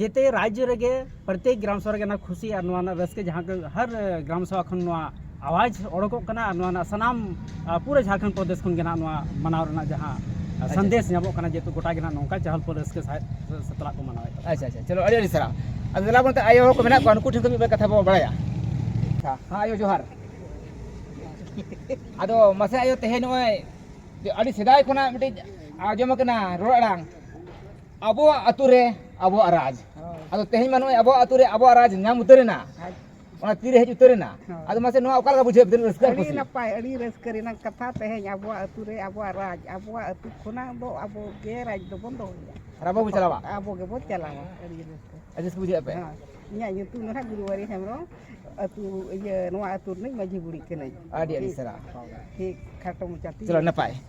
ᱡᱮᱛᱮ ᱨᱟᱡᱽᱡᱚ ᱨᱮᱜᱮ ᱯᱨᱚᱛᱮᱠ ᱜᱨᱟᱢ ᱥᱚᱵᱷᱟ ᱨᱮᱜᱮ ᱱᱚᱣᱟ ᱠᱷᱩᱥᱤ ᱟᱨ ᱱᱚᱣᱟ ᱨᱮᱱᱟᱜ ᱨᱟᱹᱥᱠᱟᱹ ᱡᱟᱦᱟᱸ ᱦᱟᱨ ᱜᱨᱟᱢ ᱥᱚᱵᱷᱟ ᱠᱷᱚᱱ ᱱᱚᱣᱟ ᱟᱣᱟᱡᱽ ᱚᱰᱚᱠᱚᱜ ᱠᱟᱱᱟ ᱟᱨ ᱱᱚᱣᱟ ᱨᱮᱱᱟᱜ ᱥᱟᱱᱟᱢ ᱯᱩᱨᱟᱹ ᱡᱷᱟᱲᱠᱷᱚᱸᱰ ᱯᱨᱚᱫᱮᱥ ᱠᱷᱚᱱ ᱜᱮ ᱱᱟᱜ ᱱᱚᱣᱟ ᱢᱟᱱᱟᱣ ᱨᱮᱱᱟᱜ ᱡᱟᱦᱟᱸ ᱥᱟᱸᱫᱮᱥ ᱧᱟᱢᱚᱜ ᱠᱟᱱᱟ ᱡᱮᱦᱮᱛᱩ ᱜᱚᱴᱟ ᱜᱮ ᱱᱟᱜ ᱱᱚᱝᱠᱟ ᱪᱟᱦᱚᱞ ᱯᱚᱨ ᱨᱟᱹᱥᱠᱟᱹ ᱥᱟᱦᱮᱫ ᱥᱟᱛᱞᱟᱜ ᱠᱚ ᱢᱟᱱᱟᱣᱮᱫ ᱛᱟᱵᱚᱱᱟ ᱟᱪᱪᱷᱟ ᱟᱪᱪᱷᱟ ᱪᱚᱞᱚ ᱟᱹᱰᱤ ᱟᱹᱰᱤ ᱥᱟᱨᱦᱟᱣ ᱟᱫᱚ ᱫᱮᱞᱟ ᱵᱚᱱ ᱟᱭᱳ ᱦᱚᱲ ᱠᱚ ᱢᱮᱱᱟᱜ ᱠᱚᱣᱟ ᱩᱱᱠᱩ ᱴᱷᱮᱱ ᱠᱷᱚᱱ ᱢᱤᱫ ᱵᱟᱨ ᱠᱟᱛᱷᱟ ᱵᱚᱱ ᱵᱟᱲᱟᱭᱟ ᱦᱮᱸ ᱟᱭᱳ ᱡᱚᱦᱟᱨ ᱟᱫᱚ ᱢᱟᱥᱮ ᱟᱭᱳ ᱛᱮᱦᱮᱧ ᱱᱚᱜᱼᱚᱭ ᱟᱹᱰᱤ ᱥᱮᱫᱟᱭ ᱠᱷᱚᱱᱟᱜ ᱢᱤᱫᱴᱤᱡ ᱟᱸᱡᱚᱢ ᱟᱠᱟᱱᱟ ᱨᱚᱲ ᱟᱲᱟᱝ ᱟᱵᱚᱣᱟᱜ ᱟᱛᱳ ᱨᱮ ᱟᱵᱚᱣᱟᱜ ᱨᱟᱡᱽ ᱟᱫᱚ ᱛᱮᱦᱮᱧ ᱢᱟ ᱱᱚᱜᱼᱚᱭ ᱟᱵᱚᱣᱟᱜ ᱟᱛᱳ ᱨᱮ ᱟᱵᱚᱣᱟᱜ ᱨᱟᱡᱽ ᱧᱟᱢ ᱩᱛᱟᱹᱨᱮᱱᱟ ᱚᱱᱟ ᱛᱤᱨᱮ ᱦᱮᱡ ᱩᱛᱟᱹᱨ ᱮᱱᱟ ᱟᱫᱚ ᱢᱟᱥᱮ ᱱᱚᱣᱟ ᱚᱠᱟ ᱞᱮᱠᱟ ᱵᱩᱡᱷᱟᱹᱣ ᱛᱤᱱᱟᱹᱜ ᱨᱟᱹᱥᱠᱟᱹ ᱟᱹᱰᱤ ᱱᱟᱯᱟᱭ ᱟᱹᱰᱤ ᱨᱟᱹᱥᱠᱟᱹ ᱨᱮᱱᱟᱜ ᱠᱟᱛᱷᱟ ᱛᱮᱦᱮᱧ ᱟᱵᱚᱣᱟᱜ ᱟᱹᱛᱩ ᱨᱮ ᱟᱵᱚᱣᱟᱜ ᱨᱟᱡᱽ ᱟᱵᱚᱣᱟᱜ ᱟᱹᱛᱩ ᱠᱷᱚᱱᱟᱜ ᱫᱚ ᱟᱵᱚ ᱜᱮ ᱨᱟᱡᱽ ᱫᱚᱵᱚᱱ ᱫᱚᱦᱚᱭᱟ ᱟᱨ ᱟᱵᱚ ᱵᱚ ᱪᱟᱞᱟᱣᱟ ᱟᱵᱚ ᱜᱮᱵᱚ ᱪᱟᱞᱟᱣᱟ ᱟᱹᱰᱤ ᱨᱟᱹᱥᱠᱟᱹ ᱟᱹᱰᱤ ᱨᱟᱹᱥᱠᱟᱹ ᱵᱩᱡᱷᱟᱹᱜᱼᱟ ᱯᱮ ᱤᱧᱟᱹᱜ ᱧᱩᱛᱩᱢ ᱫᱚ ᱦᱟᱸᱜ ᱜᱩᱨᱩᱣᱟᱨᱤ ᱦᱮᱢᱵᱨᱚᱢ ᱟᱹᱛᱩ ᱤᱭᱟᱹ ᱱᱚᱣᱟ ᱟᱹᱛᱩ ᱨᱤᱱᱤᱡ ᱢᱟᱹᱡᱷᱤ ᱵᱩᱲᱦᱤ ᱠᱟᱹᱱᱟᱹᱧ ᱟᱹᱰᱤ ᱟᱹᱰᱤ ᱥᱟᱨᱦᱟᱣ ᱴᱷᱤᱠ ᱠᱷᱟᱴᱚ ᱢᱚᱪᱟᱛᱮ ᱪᱚᱞᱚ ᱱᱟᱯᱟᱭ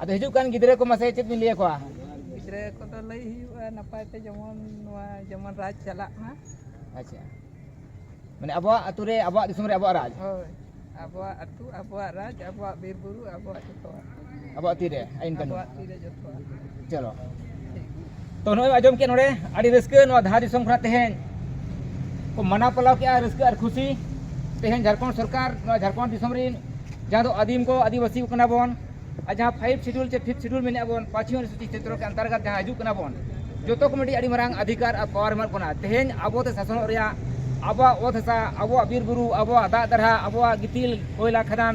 ᱟᱫᱚ ᱦᱤᱡᱩᱜ ᱠᱟᱱ ᱜᱤᱫᱽᱨᱟᱹ ᱠᱚ ᱢᱟᱥᱮ ᱪᱮᱫ ᱵᱤᱱ ᱞᱟᱹᱭ ᱟᱠᱚᱣᱟ ᱜᱤᱫᱽᱨᱟᱹ ᱠᱚᱫᱚ ᱞᱟᱹᱭ ᱦᱩᱭᱩᱜᱼᱟ ᱱᱟᱯᱟᱭ ᱛᱮ ᱡᱮᱢᱚᱱ ᱱᱚᱣᱟ ᱡᱮᱢᱚᱱ ᱨᱟᱡᱽ ᱪᱟᱞᱟᱜ ᱢᱟ ᱟᱪᱪᱷᱟ ᱢᱟᱱᱮ ᱟᱵᱚᱣᱟᱜ ᱟᱛᱳ ᱨᱮ ᱟᱵᱚᱣᱟᱜ ᱫᱤᱥᱚᱢ ᱨᱮ ᱟᱵᱚᱣᱟᱜ ᱨᱟᱡᱽ ᱦᱳᱭ ᱟᱵᱚᱣᱟᱜ ᱟᱛᱳ ᱟᱵᱚᱣᱟᱜ ᱨᱟᱡᱽ ᱟᱵᱚᱣᱟᱜ ᱵᱤᱨ ᱵᱩᱨᱩ ᱟᱵᱚᱣᱟᱜ ᱡᱚᱛᱚᱣᱟᱜ ᱟᱵᱚᱣᱟᱜ ᱛᱤᱨᱮ ᱟᱹᱭᱤᱱ ᱠᱟᱹᱱᱩᱱ ᱪᱚᱞᱚ ᱛᱚ ᱱᱚᱜᱼᱚᱭ ᱟᱸᱡᱚᱢ ᱠᱮᱫ ᱱᱚᱰᱮ ᱟᱹᱰᱤ ᱨᱟᱹᱥᱠᱟᱹ ᱱᱚᱣᱟ ᱫᱷᱟᱨ ᱫᱤᱥᱚᱢ ᱠᱷᱚᱱᱟᱜ ᱛᱮᱦᱮᱧ ᱠᱚ ᱢᱟᱱᱟᱣ ᱯᱟᱞᱟᱣ ᱠᱮᱫᱼᱟ ᱨᱟᱹᱥᱠᱟᱹ ᱟᱨ ᱠᱷᱩᱥᱤ ᱛᱮᱦᱮᱧ ᱡᱷᱟᱲᱠᱷᱚᱸᱰ ᱥᱚᱨᱠᱟᱨ ᱱᱚᱣᱟ ᱡᱷᱟᱲᱠᱷᱚᱸᱰ ᱫᱤᱥᱚᱢ ᱨᱤᱱ ᱡᱟᱦᱟᱸ ᱫᱚ ᱟᱹᱫᱤᱢ ᱠᱚ ᱟᱹᱫᱤᱵᱟᱹᱥᱤ ᱠᱚ ᱠᱟᱱᱟ ᱵᱚᱱ ᱟᱨ ᱡᱟᱦᱟᱸ ᱯᱷᱟᱭᱤᱵᱷ ᱥᱤᱰᱩᱞ ᱥᱮ ᱯᱷᱤᱯᱷ ᱥᱤᱰᱩᱞ ᱢᱮᱱᱟᱜ ᱵᱚᱱ ᱯᱟᱸᱪᱣᱤ ᱚᱱᱩᱥᱩᱪᱤ ᱪᱮᱛᱨᱚ ᱠᱮ ᱚᱱᱛᱚᱨᱜᱚᱛ ᱡᱟᱦᱟᱸ ᱦᱤᱡᱩᱜ ᱠᱟᱱᱟ ᱵᱚᱱ ᱡᱚᱛᱚ ᱠᱚ ᱢᱤᱫᱴᱤᱡ ᱟᱹᱰᱤ ᱢᱟᱨᱟᱝ ᱚᱫᱷᱤᱠᱟᱨ ᱟᱨ ᱯᱟᱣᱟᱨ ᱮᱢᱟᱜ ᱵᱚᱱᱟ ᱛᱮᱦᱮᱧ ᱟᱵᱚᱛᱮ ᱥᱟᱥᱚᱱᱚᱜ ᱨᱮᱭᱟᱜ ᱟᱵᱚᱣᱟᱜ ᱚᱛ ᱦᱟᱥᱟ ᱟᱵᱚᱣᱟᱜ ᱵᱤᱨ ᱵᱩᱨᱩ ᱟᱵᱚᱣᱟᱜ ᱫᱟᱜ ᱫᱟᱨᱦᱟ ᱟᱵᱚᱣᱟᱜ ᱜᱤᱛᱤᱞ ᱠᱚᱭᱞᱟ ᱠᱷᱟᱫᱟᱱ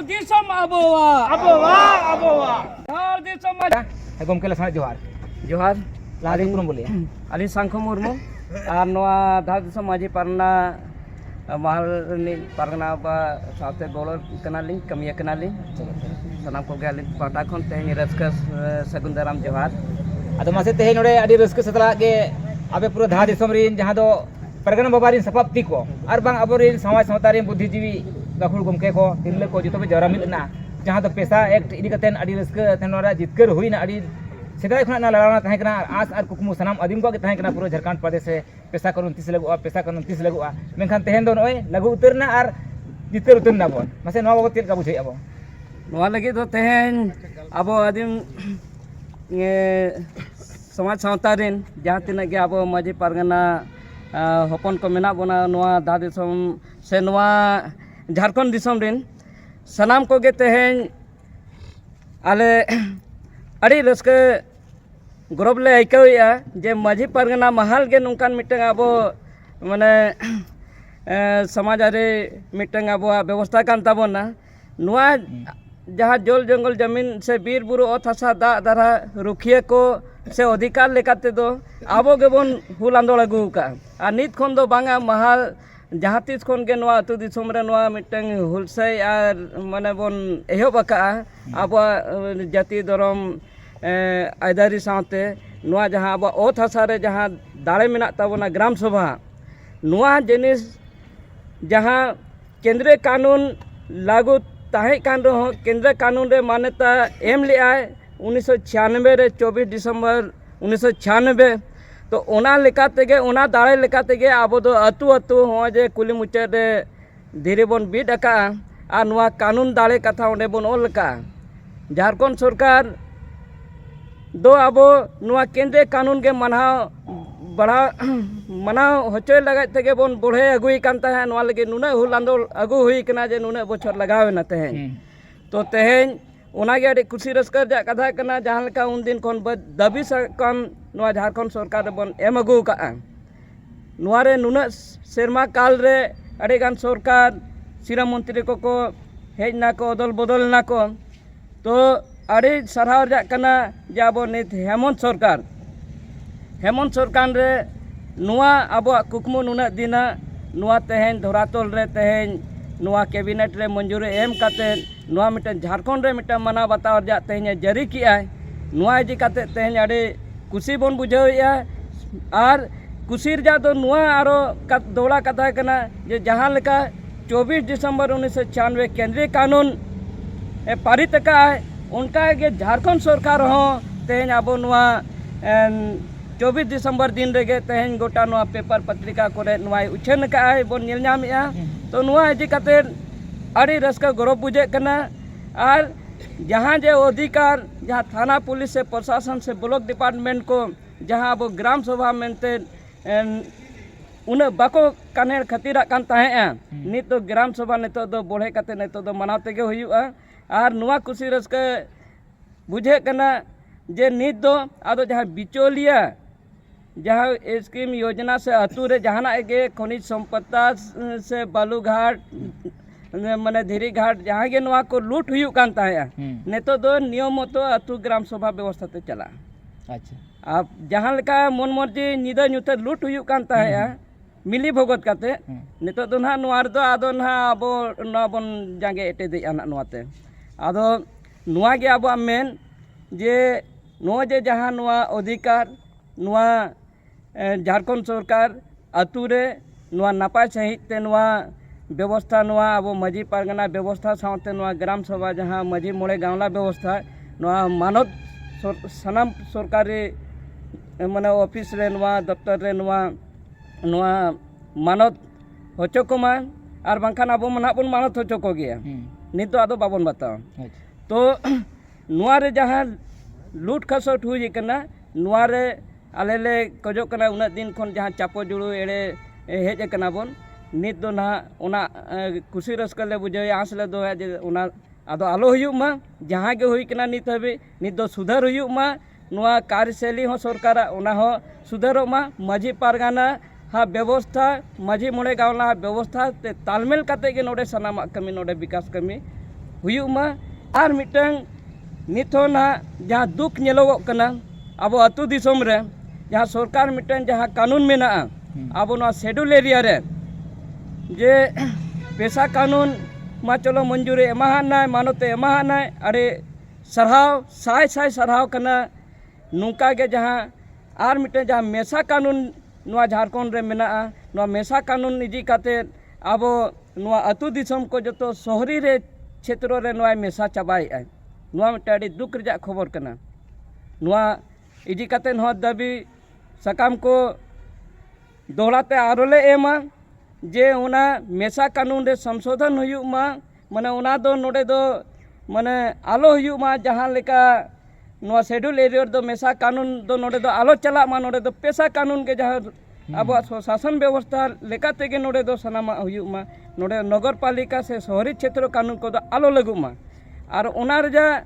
ᱫᱤᱥᱚᱢ ᱟᱵᱚᱣᱟᱜ ᱟᱵᱚᱣᱟᱜ ᱟᱵᱚᱣᱟᱜ ᱫᱷᱟᱲ ᱫᱤᱥᱚᱢ ᱦᱮᱸ ᱜᱚᱢᱠᱮ ᱞᱮ ᱥᱟᱦᱮᱫ ᱡᱚᱦᱟᱨ ᱡᱚᱦᱟᱨ ᱞᱟᱦᱟ ᱫᱤᱱ ᱠᱚᱨᱚᱢ ᱵᱚᱞᱮ ᱟᱹᱞᱤᱧ ᱥᱟᱝᱠᱷᱚ ᱢᱩᱨᱢᱩ ᱟᱨ ᱱᱚᱣᱟ ᱫᱷᱟᱲ ᱫᱤᱥᱚᱢ ᱢᱟᱹᱡᱷᱤ ᱯᱟᱨᱜᱟᱱᱟ ᱢᱟᱦᱟᱞ ᱨᱤᱱᱤᱡ ᱯᱟᱨᱜᱟᱱᱟ ᱵᱟ ᱥᱟᱶᱛᱮ ᱜᱚᱲᱚ ᱠᱟᱱᱟᱞᱤᱧ ᱠᱟᱹᱢᱤᱭᱟᱹ ᱠᱟᱱᱟᱞᱤᱧ ᱥᱟᱱᱟᱢ ᱠᱚᱜᱮ ᱟᱹᱞᱤᱧ ᱯᱟᱦᱴᱟ ᱠᱷᱚᱱ ᱛᱮᱦᱮᱧ ᱨᱟᱹᱥᱠᱟᱹ ᱥᱟᱹᱜᱩᱱ ᱫᱟᱨᱟᱢ ᱡᱚᱦᱟᱨ ᱟᱫᱚ ᱢᱟᱥᱮ ᱛᱮᱦᱮᱧ ᱱᱚᱰᱮ ᱟᱹᱰᱤ ᱨᱟᱹᱥᱠᱟᱹ ᱥᱟᱛᱞᱟᱜ ᱜᱮ ᱟᱯᱮ ᱯᱩᱨᱟᱹ ᱫᱷᱟᱲ ᱫᱤᱥᱚᱢ ᱨᱤᱱ ᱡᱟᱦᱟᱸ ᱫᱚ ᱯᱟᱨᱜᱟᱱᱟ ᱵᱟᱵᱟ ᱨᱮᱱ ᱥᱟᱯᱟᱵ ᱛᱤ ᱠᱚ ᱟᱨ ᱵᱟᱝ ᱟᱵᱚ ᱨᱮᱱ ᱥᱟᱶᱟᱭ ᱥᱟᱶᱛᱟ ᱨᱮᱱ ᱵᱩᱫᱷᱤ ᱡᱤᱵᱤ ᱜᱟᱹᱠᱷᱩᱲ ᱜᱚᱢᱠᱮ ᱠᱚ ᱛᱤᱨᱞᱟᱹ ᱠᱚ ᱡᱚᱛᱚ ᱠᱚ ᱡᱟᱣᱨᱟ ᱢᱤᱫ ᱞᱮᱱᱟ ᱡᱟᱦᱟᱸ ᱫᱚ ᱯᱮᱥᱟ ᱮᱠᱴ ᱤᱫᱤ ᱠᱟᱛᱮ ᱟᱹᱰᱤ ᱨᱟᱹᱥᱠᱟᱹ ᱛᱮ ᱱᱚᱣᱟ ᱨᱮᱭᱟᱜ ᱡᱤᱛᱠᱟᱹᱨ ᱦᱩᱭᱱᱟ ᱟᱹᱰᱤ ᱥᱮᱫᱟᱭ ᱠᱷᱚᱱᱟᱜ ᱱᱚᱣᱟ ᱞᱟᱲᱟᱣᱱᱟ ᱛᱟᱦᱮᱸ ᱠᱟᱱᱟ ᱟᱥ ᱟᱨ ᱠᱩᱠᱢᱩ ᱥᱟᱱᱟᱢ ᱟᱹᱫᱤᱢ ᱠᱚᱣᱟᱜ ᱜᱮ ᱛᱟᱦᱮᱸ ᱠᱟᱱᱟ ᱯᱩᱨᱟᱹ ᱡᱷᱟᱲᱠᱷᱚᱸᱰ ᱯᱨᱚᱫᱮᱥ ᱨᱮ ᱯᱮᱥᱟ ᱠᱟᱹᱱᱩᱱ ᱛᱤᱥ ᱞᱟᱹᱜᱩᱜᱼᱟ ᱯᱮᱥᱟ ᱠᱟᱹᱱᱩᱱ ᱛᱤᱥ ᱞᱟᱹᱜᱩᱜᱼᱟ ᱢᱮᱱᱠᱷᱟᱱ ᱛᱮᱦᱮᱧ ᱫᱚ ᱱᱚᱜᱼᱚᱭ ᱞᱟᱹᱜᱩ ᱩᱛᱟᱹᱨᱮᱱᱟ ᱟᱨ ᱡᱤᱛᱠᱟᱹᱨ ᱩᱛᱟᱹᱨ ᱱᱟᱵᱚᱱ ᱢᱟᱥᱮ ᱱᱚᱣᱟ ᱵᱟᱵᱚᱫ ᱪᱮᱫ ᱞᱮᱠᱟ ᱵᱩᱡᱷᱟᱹᱣᱮᱫ ᱟᱵᱚᱱ ᱱᱚᱣᱟ ᱞᱟᱹᱜᱤᱫ ᱫᱚ ᱛᱮᱦᱮᱧ ᱟᱵᱚ ᱟᱹᱫᱤᱢ ᱥᱚᱢᱟᱡᱽ ᱥᱟᱶᱛᱟ ᱨᱮᱱ ᱡᱟᱦᱟᱸ ᱛᱤᱱᱟᱹᱜ ᱜᱮ ᱟᱵᱚ ᱢᱟᱺᱡᱷᱤ ᱯᱟᱨᱜᱟᱱᱟ ᱦᱚᱯᱚᱱ ᱠᱚ ᱢᱮᱱᱟᱜ ᱵᱚᱱᱟ ᱱᱚᱣᱟ ᱫᱷᱟ ᱫᱤᱥᱚᱢ ᱥᱮ ᱱᱚᱣᱟ ᱡᱷᱟᱲᱠᱷᱚᱸᱰ ᱫᱤᱥᱚᱢ ᱨᱮᱱ ᱥᱟᱱᱟᱢ ᱠᱚᱜᱮ ᱛᱮᱦᱮᱧ ᱟᱞᱮ ᱟᱹᱰᱤ ᱨᱟᱹᱥᱠᱟᱹ ᱜᱚᱨᱚᱵᱽ ᱞᱮ ᱟᱹᱭᱠᱟᱹᱣᱮᱜᱼᱟ ᱡᱮ ᱢᱟᱺᱡᱷᱤ ᱯᱟᱨᱜᱟᱱᱟ ᱢᱟᱦᱟᱞ ᱜᱮ ᱱᱚᱝᱠᱟᱱ ᱢᱤᱫᱴᱟᱹᱝ ᱟᱵᱚ ᱢᱟᱱᱮ ᱥᱚᱢᱟᱡᱽ ᱟᱹᱨᱤ ᱢᱤᱫᱴᱟᱹᱝ ᱟᱵᱚᱣᱟᱜ ᱵᱮᱵᱚᱥᱛᱷᱟ ᱠᱟᱱ ᱛᱟᱵᱚᱱᱟ ᱱᱚᱣᱟ ᱡᱟᱦᱟᱸ ᱡᱚᱞ ᱡᱚᱝᱜᱚᱞ ᱡᱟᱹᱢᱤᱱ ᱥᱮ ᱵᱤᱨ ᱵᱩᱨᱩ ᱚᱛ ᱦᱟᱥᱟ ᱫᱟᱜ ᱫᱟᱨᱦᱟ ᱨᱩᱠᱷᱤᱭᱟᱹ ᱠᱚ ᱥᱮ ᱚᱫᱷᱤᱠᱟᱨ ᱞᱮᱠᱟ ᱛᱮᱫᱚ ᱟᱵᱚ ᱜᱮᱵᱚᱱ ᱦᱩᱞ ᱟᱸᱫᱳᱲ ᱟᱹᱜᱩ ᱠᱟᱜᱼᱟ ᱟᱨ ᱱᱤᱛ ᱠᱷᱚᱱ ᱫᱚ ᱵᱟᱝᱟ ᱢᱟᱦᱟ ᱡᱟᱦᱟᱸ ᱛᱤᱥ ᱠᱷᱚᱱ ᱜᱮ ᱱᱚᱣᱟ ᱟᱛᱳ ᱫᱤᱥᱚᱢ ᱨᱮ ᱱᱚᱣᱟ ᱢᱤᱫᱴᱟᱹᱝ ᱦᱩᱞᱥᱟᱹᱭ ᱟᱨ ᱢᱟᱱᱮ ᱵᱚᱱ ᱮᱦᱚᱵ ᱠᱟᱜᱼᱟ ᱟᱵᱚᱣᱟᱜ ᱡᱟᱹᱛᱤ ᱫᱷᱚᱨᱚᱢ ᱟᱹᱭᱫᱟᱹᱨᱤ ᱥᱟᱶᱛᱮ ᱱᱚᱣᱟ ᱡᱟᱦᱟᱸ ᱟᱵᱚᱣᱟᱜ ᱚᱛ ᱦᱟᱥᱟ ᱨᱮ ᱡᱟᱦᱟᱸ ᱫᱟᱲᱮ ᱢᱮᱱᱟᱜ ᱛᱟᱵᱚᱱᱟ ᱜᱨᱟᱢ ᱥᱚᱵᱷᱟ ᱱᱚᱣᱟ ᱡᱤᱱᱤᱥ ᱡᱟᱦᱟᱸ ᱠᱮᱱᱫᱨᱚ ᱠᱟᱹᱱᱩᱱ ᱞᱟᱹᱜᱩ ᱛᱟᱦᱮᱸ ᱠᱟᱱ ᱨᱮᱦᱚᱸ ᱠᱮᱱᱫᱨᱚ ᱠᱟᱹᱱᱩᱱ ᱨᱮ ᱢᱟᱱᱱᱚᱛᱟ ᱮᱢ ᱞᱮᱜᱼᱟᱭ ᱩᱱᱤᱥᱥᱚ ᱪᱷᱤᱭᱟᱱᱚᱵᱵᱮ ᱨᱮ ᱪᱚᱵᱵᱤᱥ ᱰᱤᱥᱮᱢᱵᱚᱨ ᱩᱱᱤᱥᱥᱚ ᱪᱷᱤᱭᱟᱱᱚᱵᱵᱮ ᱛᱚ ᱚᱱᱟ ᱞᱮᱠᱟ ᱛᱮᱜᱮ ᱚᱱᱟ ᱫᱟᱲᱮ ᱞᱮᱠᱟ ᱛᱮᱜᱮ ᱟᱵᱚ ᱫᱚ ᱟᱛᱳ ᱟᱛᱳ ᱱᱚᱜᱼᱚᱭ ᱡᱮ ᱠᱩᱞᱦᱤ ᱢᱩᱪᱟᱹᱫ ᱨᱮ ᱫᱷᱤᱨᱤ ᱵᱚᱱ ᱵᱤᱫ ᱟᱠᱟᱜᱼᱟ ᱟᱨ ᱱᱚᱣᱟ ᱠᱟᱹᱱᱩᱱ ᱫᱟᱲᱮ ᱠᱟᱛᱷᱟ ᱚᱸᱰᱮ ᱵᱚᱱ ᱚᱞ ᱠᱟᱜᱼᱟ ᱡᱷᱟᱲᱠᱷᱚᱸᱰ ᱥᱚᱨᱠᱟᱨ ᱫᱚ ᱟᱵᱚ ᱱᱚᱣᱟ ᱠᱮᱱᱫᱨᱚ ᱠᱟᱹᱱᱩᱱ ᱜᱮ ᱢᱟᱱᱟᱣ ᱵᱟᱲᱟᱣ ᱢᱟᱱᱟᱣ ᱦᱚᱪᱚᱭ ᱞᱟᱹᱜᱤᱫ ᱛᱮᱜᱮ ᱵᱚᱱ ᱵᱚᱲᱦᱮ ᱟᱹᱜᱩᱭᱮ ᱠᱟᱱ ᱛᱟᱦᱮᱸᱫ ᱱᱚᱣᱟ ᱞᱟᱹᱜᱤᱫ ᱱᱩᱱᱟᱹᱜ ᱦᱩᱞ ᱟᱸᱫᱳᱲ ᱟᱹᱜᱩ ᱦᱩᱭ ᱠᱟᱱᱟ ᱡᱮ ᱱᱩᱱᱟᱹᱜ ᱵᱚᱪᱷᱚᱨ ᱞᱟᱜᱟᱣ ᱮᱱᱟ ᱛᱮᱦᱮᱧ ᱛᱚ ᱛᱮᱦᱮᱧ ᱚᱱᱟ ᱜᱮ ᱟᱹᱰᱤ ᱠᱩᱥᱤ ᱨᱟᱹᱥᱠᱟᱹ ᱨᱮᱭᱟᱜ ᱠᱟᱛᱷᱟ ᱠᱟᱱᱟ ᱡᱟᱦᱟᱸ ᱞᱮᱠᱟ ᱩᱱᱫᱤᱱ ᱠᱷᱚᱱ ᱫᱟᱹᱵᱤ ᱥᱟᱠᱟᱢ ᱱᱚᱣᱟ ᱡᱷᱟᱲᱠᱷᱚᱸᱰ ᱥᱚᱨᱠᱟᱨ ᱨᱮᱵᱚᱱ ᱮᱢ ᱟᱹᱜᱩ ᱠᱟᱜᱼᱟ ᱱᱚᱣᱟ ᱨᱮ ᱱᱩᱱᱟᱹᱜ ᱥᱮᱨᱢᱟ ᱠᱟᱞ ᱨᱮ ᱟᱹᱰᱤ ᱜᱟᱱ ᱥᱚᱨᱠᱟᱨ ᱥᱤᱨᱟᱹ ᱢᱚᱱᱛᱨᱤ ᱠᱚᱠᱚ ᱦᱮᱡ ᱱᱟᱠᱚ ᱚᱫᱚᱞ ᱵᱚᱫᱚᱞ ᱱᱟᱠᱚ ᱛᱚ ᱟᱹᱰᱤ ᱥᱟᱨᱦᱟᱣ ᱨᱮᱭᱟᱜ ᱠᱟᱱᱟ ᱡᱮ ᱟᱵᱚ ᱱᱤᱛ ᱦᱮᱢᱚᱱᱛ ᱥᱚᱨᱠᱟᱨ ᱦᱮᱢᱚᱱᱛ ᱥᱚᱨᱠᱟᱨ ᱨᱮ ᱱᱚᱣᱟ ᱟᱵᱚᱣᱟᱜ ᱠᱩᱠᱢᱩ ᱱᱩᱱᱟᱹᱜ ᱫᱤᱱᱟᱜ ᱱᱚᱣᱟ ᱛᱮᱦᱮᱧ ᱫᱷᱚᱨᱟᱛᱚᱞ ᱨᱮ ᱛᱮᱦᱮᱧ ᱱᱚᱣᱟ ᱠᱮᱵᱤᱱᱮᱴ ᱨᱮ ᱢᱚᱧᱡᱩᱨᱤ ᱮᱢ ᱠᱟᱛᱮ ᱱᱚᱣᱟ ᱢᱤᱫᱴᱮᱱ ᱡᱷᱟᱲᱠᱷᱚᱸᱰ ᱨᱮ ᱢᱤᱫᱴᱟᱱ ᱢᱟᱱᱟᱣ ᱵᱟᱛᱟᱣ ᱨᱮᱭᱟᱜ ᱛᱮᱦᱮᱧᱮ ᱡᱟᱹᱨᱤ ᱠᱮᱜᱼᱟᱭ ᱱᱚᱣᱟ ᱤᱫᱤ ᱠᱟᱛᱮ ᱛᱮᱦᱮᱧ ᱟᱹᱰᱤ ᱠᱩᱥᱤ ᱵᱚᱱ ᱵᱩᱡᱷᱟᱹᱣᱮᱜᱼᱟ ᱟᱨ ᱠᱩᱥᱤ ᱨᱮᱭᱟᱜ ᱫᱚ ᱱᱚᱣᱟ ᱟᱨᱚ ᱫᱚᱦᱲᱟ ᱠᱟᱛᱷᱟ ᱠᱟᱱᱟ ᱡᱮ ᱡᱟᱦᱟᱸ ᱞᱮᱠᱟ ᱪᱚᱵᱵᱤᱥ ᱰᱤᱥᱮᱢᱵᱚᱨ ᱩᱱᱤᱥᱥᱚ ᱪᱷᱤᱭᱟᱱᱚᱵᱵᱳᱭ ᱠᱮᱱᱫᱨᱤᱭᱚ ᱠᱟᱹᱱᱩᱱ ᱮ ᱯᱟᱹᱨᱤᱛ ᱟᱠᱟᱫ ᱟᱭ ᱚᱱᱠᱟ ᱜᱮ ᱡᱷᱟᱲᱠᱷᱚᱸᱰ ᱥᱚᱨᱠᱟᱨ ᱦᱚᱸ ᱛᱮᱦᱮᱧ ᱟᱵᱚ ᱱᱚᱣᱟ ᱪᱚᱵᱵᱤᱥ ᱰᱤᱥᱮᱢᱵᱚᱨ ᱫᱤᱱ ᱨᱮᱜᱮ ᱛᱮᱦᱮᱧ ᱜᱚᱴᱟ ᱱᱚᱣᱟ ᱯᱮᱯᱟᱨ ᱯᱚᱛᱨᱤᱠᱟ ᱠᱚᱨᱮᱜ ᱱᱚᱣᱟᱭ ᱩᱪᱷᱟᱹᱱ ᱟᱠᱟᱫ ᱟᱭ ᱵᱚᱱ ᱧᱮᱞ ᱧᱟᱢᱮᱜᱼᱟ ᱛᱚ ᱱᱚᱣᱟ ᱤᱫᱤ ᱠᱟᱛᱮ ᱟᱹᱰᱤ ᱨᱟᱹᱥᱠᱟᱹ ᱜᱚᱨᱚᱵᱽ ᱵᱩᱡᱷᱟᱹᱜ ᱠᱟᱱᱟ ᱟᱨ ᱡᱟᱦᱟᱸ ᱡᱮ ᱚᱫᱷᱤᱠᱟᱨ ᱡᱟᱦᱟᱸ ᱛᱷᱟᱱᱟ ᱯᱩᱞᱤᱥ ᱥᱮ ᱯᱨᱚᱥᱟᱥᱚᱱ ᱥᱮ ᱵᱞᱚᱠ ᱰᱤᱯᱟᱨᱴᱢᱮᱱᱴ ᱠᱚ ᱡᱟᱦᱟᱸ ᱟᱵᱚ ᱜᱨᱟᱢ ᱥᱚᱵᱷᱟ ᱢᱮᱱᱛᱮ ᱩᱱᱟᱹᱜ ᱵᱟᱠᱚ ᱠᱟᱱᱮᱲ ᱠᱷᱟᱹᱛᱤᱨᱟᱜ ᱠᱟᱱ ᱛᱟᱦᱮᱸᱜᱼᱟ ᱱᱤᱛ ᱫᱚ ᱜᱨᱟᱢ ᱥᱚᱵᱷᱟ ᱱᱤᱛᱚᱜ ᱫᱚ ᱵᱚᱲᱦᱮ ᱠᱟᱛᱮ ᱱᱤᱛᱚᱜ ᱫᱚ ᱢᱟᱱᱟᱣ ᱛᱮᱜᱮ ᱦᱩᱭᱩᱜᱼᱟ ᱟᱨ ᱱᱚᱣᱟ ᱠᱩᱥᱤ ᱨᱟᱹᱥᱠᱟᱹ ᱵᱩᱡᱷᱟᱹᱜ ᱠᱟᱱᱟ ᱡᱮ ᱱᱤᱛ ᱫᱚ ᱟᱫᱚ ᱡᱟᱦᱟᱸᱭ ᱵᱤᱪᱚᱞᱤᱭᱟᱹ ᱡᱟᱦᱟᱸ ᱥᱠᱤᱢ ᱭᱳᱡᱚᱱᱟ ᱥᱮ ᱟᱹᱛᱩ ᱨᱮ ᱡᱟᱦᱟᱱᱟᱜ ᱜᱮ ᱠᱷᱚᱱᱤᱡᱽ ᱥᱚᱢᱯᱚᱫᱟ ᱥᱮ ᱵᱟᱹᱞᱩ ᱜᱷᱟᱴ ᱢᱟᱱᱮ ᱫᱷᱤᱨᱤ ᱜᱷᱟᱴ ᱡᱟᱦᱟᱸ ᱜᱮ ᱱᱚᱣᱟ ᱠᱚ ᱞᱩᱴ ᱦᱩᱭᱩᱜ ᱠᱟᱱ ᱛᱟᱦᱮᱸᱫᱼᱟ ᱱᱤᱛᱚᱜ ᱫᱚ ᱱᱤᱭᱚᱢᱚᱛᱚ ᱟᱹᱛᱩ ᱜᱨᱟᱢ ᱥᱚᱵᱷᱟ ᱵᱮᱵᱚᱥᱛᱟ ᱛᱮ ᱪᱟᱞᱟᱜᱼᱟ ᱟᱪᱪᱷᱟ ᱟᱨ ᱡᱟᱦᱟᱸ ᱞᱮᱠᱟ ᱢᱚᱱ ᱢᱚᱨᱡᱤ ᱧᱤᱫᱟᱹ ᱧᱩᱛᱟᱹᱛ ᱞᱩᱴ ᱦᱩᱭᱩᱜ ᱠᱟᱱ ᱛᱟᱦᱮᱸᱫᱼᱟ ᱢᱤᱞᱤ ᱵᱷᱚᱜᱚᱛ ᱠᱟᱛᱮᱫ ᱱᱤᱛᱚᱜ ᱫᱚ ᱱᱟᱦᱟᱜ ᱱᱚᱣᱟ ᱨᱮᱫᱚ ᱟᱫᱚ ᱱᱟᱦᱟᱜ ᱟᱵᱚ ᱱᱚᱣᱟ ᱵᱚᱱ ᱡᱟᱸᱜᱮ ᱮᱴᱮᱫᱮᱜᱼᱟ ᱱᱟᱦᱟᱜ ᱱᱚᱣᱟᱛᱮ ᱟᱫᱚ ᱱᱚᱣᱟ ᱜᱮ ᱟᱵᱚᱣᱟᱜ ᱢᱮᱱ ᱡᱮ ᱱᱚᱜᱼᱚᱭ ᱡᱮ ᱡᱟᱦᱟᱸ ᱱᱚᱣᱟ ᱚᱫᱷᱤᱠᱟᱨ ᱱᱚᱣᱟ ᱡᱷᱟᱲᱠᱷᱚᱸᱰ ᱥᱚᱨᱠᱟᱨ ᱟᱹᱛᱩ ᱨᱮ ᱱᱚᱣᱟ ᱱᱟᱯᱟᱭ ᱥᱟᱺᱦᱤᱡ ᱛᱮ ᱱᱚᱣᱟ ᱵᱮᱵᱚᱥᱛᱷᱟ ᱱᱚᱣᱟ ᱟᱵᱚ ᱢᱟᱹᱡᱷᱤ ᱯᱟᱨᱜᱟᱱᱟ ᱵᱮᱵᱚᱥᱛᱷᱟ ᱥᱟᱶᱛᱮ ᱱᱚᱣᱟ ᱜᱨᱟᱢ ᱥᱚᱵᱷᱟ ᱡᱟᱦᱟᱸ ᱢᱟᱹᱡᱷᱤ ᱢᱚᱬᱮ ᱜᱟᱶᱞᱟ ᱵᱮᱵᱚᱥᱛᱷᱟ ᱱᱚᱣᱟ ᱢᱟᱱᱚᱛ ᱥᱟᱱᱟᱢ ᱥᱚᱨᱠᱟᱨᱤ ᱢᱟᱱᱮ ᱚᱯᱷᱤᱥ ᱨᱮ ᱱᱚᱣᱟ ᱫᱚᱯᱛᱚᱨ ᱨᱮ ᱱᱚᱣᱟ ᱱᱚᱣᱟ ᱢᱟᱱᱚᱛ ᱦᱚᱪᱚ ᱠᱚᱢᱟ ᱟᱨ ᱵᱟᱝᱠᱷᱟᱱ ᱟᱵᱚ ᱢᱟ ᱱᱟᱦᱟᱜ ᱵᱚᱱ ᱢᱟᱱᱚᱛ ᱦᱚᱪᱚ ᱠᱚᱜᱮᱭᱟ ᱱᱤᱛᱚᱜ ᱟᱫᱚ ᱵᱟᱵᱚᱱ ᱵᱟᱛᱟᱣᱟ ᱛᱚ ᱱᱚᱣᱟ ᱨᱮ ᱡᱟᱦᱟᱸ ᱞᱩᱴ ᱠᱷᱟᱥᱚᱴ ᱦᱩᱭ ᱟᱠᱟᱱᱟ ᱱᱚᱣᱟ ᱨᱮ ᱟᱞᱮ ᱞᱮ ᱠᱷᱚᱡᱚᱜ ᱠᱟᱱᱟ ᱩᱱᱟᱹᱜ ᱫᱤᱱ ᱠᱷᱚᱱ ᱡᱟᱦᱟᱸ ᱪᱟᱯᱚ ᱡᱩᱲᱩ ᱮᱲᱮ ᱦᱮᱡ ᱟᱠᱟᱱᱟ ᱵᱚᱱ ᱱᱤᱛ ᱫᱚ ᱱᱟᱦᱟᱜ ᱚᱱᱟ ᱠᱩᱥᱤ ᱨᱟᱹᱥᱠᱟᱹ ᱞᱮ ᱵᱩᱡᱷᱟᱹᱣᱮᱜᱼᱟ ᱟᱥ ᱞᱮ ᱫᱚᱦᱚᱭᱟ ᱡᱮ ᱚᱱᱟ ᱟᱫᱚ ᱟᱞᱚ ᱦᱩᱭᱩᱜ ᱢᱟ ᱡᱟᱦᱟᱸ ᱜᱮ ᱦᱩᱭ ᱠᱟᱱᱟ ᱱᱤᱛ ᱦᱟᱹᱵᱤᱡ ᱱᱤᱛ ᱫᱚ ᱥᱩᱫᱷᱟᱹᱨ ᱦᱩᱭᱩᱜ ᱢᱟ ᱱᱚᱣᱟ ᱠᱟᱹᱨᱤᱪᱟᱹᱞᱤ ᱦᱚᱸ ᱥᱚᱨᱠᱟᱨᱟᱜ ᱚᱱᱟ ᱦᱚᱸ ᱥᱩᱫᱷᱟᱹᱨᱚᱜ ᱢᱟ ᱢᱟᱺᱡᱷᱤ ᱯᱟᱨᱜᱟᱱᱟ ᱟᱜ ᱵᱮᱵᱚᱥᱛᱷᱟ ᱢᱟᱺᱡᱷᱤ ᱢᱚᱬᱮ ᱜᱟᱶᱞᱟ ᱟᱜ ᱵᱮᱵᱚᱥᱛᱷᱟ ᱛᱮ ᱛᱟᱞᱢᱮᱞ ᱠᱟᱛᱮᱫ ᱜᱮ ᱱᱚᱰᱮ ᱥᱟᱱᱟᱢᱟᱜ ᱠᱟᱹᱢᱤ ᱱᱚᱰᱮ ᱵᱤᱠᱟᱥ ᱠᱟᱹᱢᱤ ᱦᱩᱭᱩᱜ ᱢᱟ ᱟᱨ ᱢᱤᱫᱴᱟᱹᱝ ᱱᱤᱛ ᱦᱚᱸ ᱱᱟᱦᱟᱜ ᱡᱟᱦᱟᱸ ᱫᱩᱠ ᱧᱮᱞᱚᱜᱚᱜ ᱠᱟᱱᱟ ᱟᱵᱚ ᱟᱛᱳ ᱫᱤᱥᱚᱢ ᱨᱮ ᱡᱟᱦᱟᱸ ᱥᱚᱨᱠᱟᱨ ᱢᱤᱫᱴᱟᱹᱝ ᱡᱟᱦᱟᱸ ᱠᱟᱹᱱᱩᱱ ᱢᱮᱱᱟᱜᱼᱟ ᱟᱵᱚ ᱱᱚᱣᱟ ᱥᱮᱰᱩᱞ ᱮᱨᱤᱭᱟ ᱨᱮ ᱡᱮ ᱯᱮᱥᱟ ᱠᱟᱹᱱᱩᱱ ᱢᱟ ᱪᱚᱞᱚ ᱢᱚᱧᱡᱩᱨᱤ ᱮᱢᱟᱦᱟᱜ ᱱᱟᱭ ᱢᱟᱱᱚᱛᱮ ᱮᱢᱟᱦᱟᱜ ᱱᱟᱭ ᱟᱹᱰᱤ ᱥᱟᱨᱦᱟᱣ ᱥᱟᱭ ᱥᱟᱭ ᱥᱟᱨᱦᱟᱣ ᱠᱟᱱᱟ ᱱᱚᱝᱠᱟ ᱜᱮ ᱡᱟᱦᱟᱸ ᱟᱨ ᱢᱤᱫᱴᱮᱱ ᱡᱟᱦᱟᱸ ᱢᱮᱥᱟ ᱠᱟᱹᱱᱩᱱ ᱱᱚᱣᱟ ᱡᱷᱟᱲᱠᱷᱚᱸᱰ ᱨᱮ ᱢᱮᱱᱟᱜᱼᱟ ᱱᱚᱣᱟ ᱢᱮᱥᱟ ᱠᱟᱹᱱᱩᱱ ᱤᱫᱤ ᱠᱟᱛᱮᱫ ᱟᱵᱚ ᱱᱚᱣᱟ ᱟᱛᱳ ᱫᱤᱥᱚᱢ ᱠᱚ ᱡᱚᱛᱚ ᱥᱚᱦᱨᱤ ᱨᱮ ᱪᱷᱮᱛᱨᱚ ᱨᱮ ᱱᱚᱣᱟᱭ ᱢᱮᱥᱟ ᱪᱟᱵᱟᱭᱮᱜᱼᱟᱭ ᱱᱚᱣᱟ ᱢᱤᱫᱴᱮᱱ ᱟᱹᱰᱤ ᱫᱩᱠ ᱨᱮᱭᱟᱜ ᱠᱷᱚᱵᱚᱨ ᱠᱟᱱᱟ ᱱᱚᱣᱟ ᱤᱫᱤ ᱠᱟᱛᱮᱫ ᱦᱚᱸ ᱫᱟᱹᱵᱤ ᱥᱟᱠᱟᱢ ᱠᱚ ᱫᱚᱦᱲᱟ ᱛᱮ ᱟᱨᱚ ᱞᱮ ᱮᱢᱟ ᱡᱮ ᱚᱱᱟ ᱢᱮᱥᱟ ᱠᱟᱹᱱᱩᱱ ᱨᱮ ᱥᱚᱝᱥᱳᱫᱷᱚᱱ ᱦᱩᱭᱩᱜ ᱢᱟ ᱢᱟᱱᱮ ᱚᱱᱟ ᱫᱚ ᱱᱚᱰᱮ ᱫᱚ ᱢᱟᱱᱮ ᱟᱞᱚ ᱦᱩᱭᱩᱜ ᱢᱟ ᱡᱟᱦᱟᱸ ᱞᱮᱠᱟ ᱱᱚᱣᱟ ᱥᱮᱰᱩᱞ ᱮᱨᱤᱭᱟ ᱨᱮᱫᱚ ᱢᱮᱥᱟ ᱠᱟᱹᱱᱩᱱ ᱫᱚ ᱱᱚᱰᱮ ᱫᱚ ᱟᱞᱚ ᱪᱟᱞᱟᱜ ᱢᱟ ᱱᱚᱰᱮ ᱫᱚ ᱯᱮᱥᱟ ᱠᱟᱹᱱᱩᱱ ᱜᱮ ᱡᱟᱦᱟᱸ ᱟᱵᱚᱣᱟᱜ ᱥᱚᱼᱥᱟᱥᱚᱱ ᱵᱮᱵᱚᱥᱛᱷᱟ ᱞᱮᱠᱟ ᱛᱮᱜᱮ ᱱᱚᱰᱮ ᱫᱚ ᱥᱟᱱᱟᱢᱟᱜ ᱦᱩᱭᱩᱜ ᱢᱟ ᱱᱚᱰᱮ ᱱᱚᱜᱚᱨ ᱯᱟᱞᱤᱠᱟ ᱥᱮ ᱥᱚᱦᱚᱨᱤ ᱪᱷᱮᱛᱨᱚ ᱠᱟᱹᱱᱩᱱ ᱠᱚᱫᱚ ᱟᱞᱚ ᱞᱟᱹᱜᱩᱜ ᱢᱟ ᱟᱨ ᱚᱱᱟ ᱨᱮᱭᱟᱜ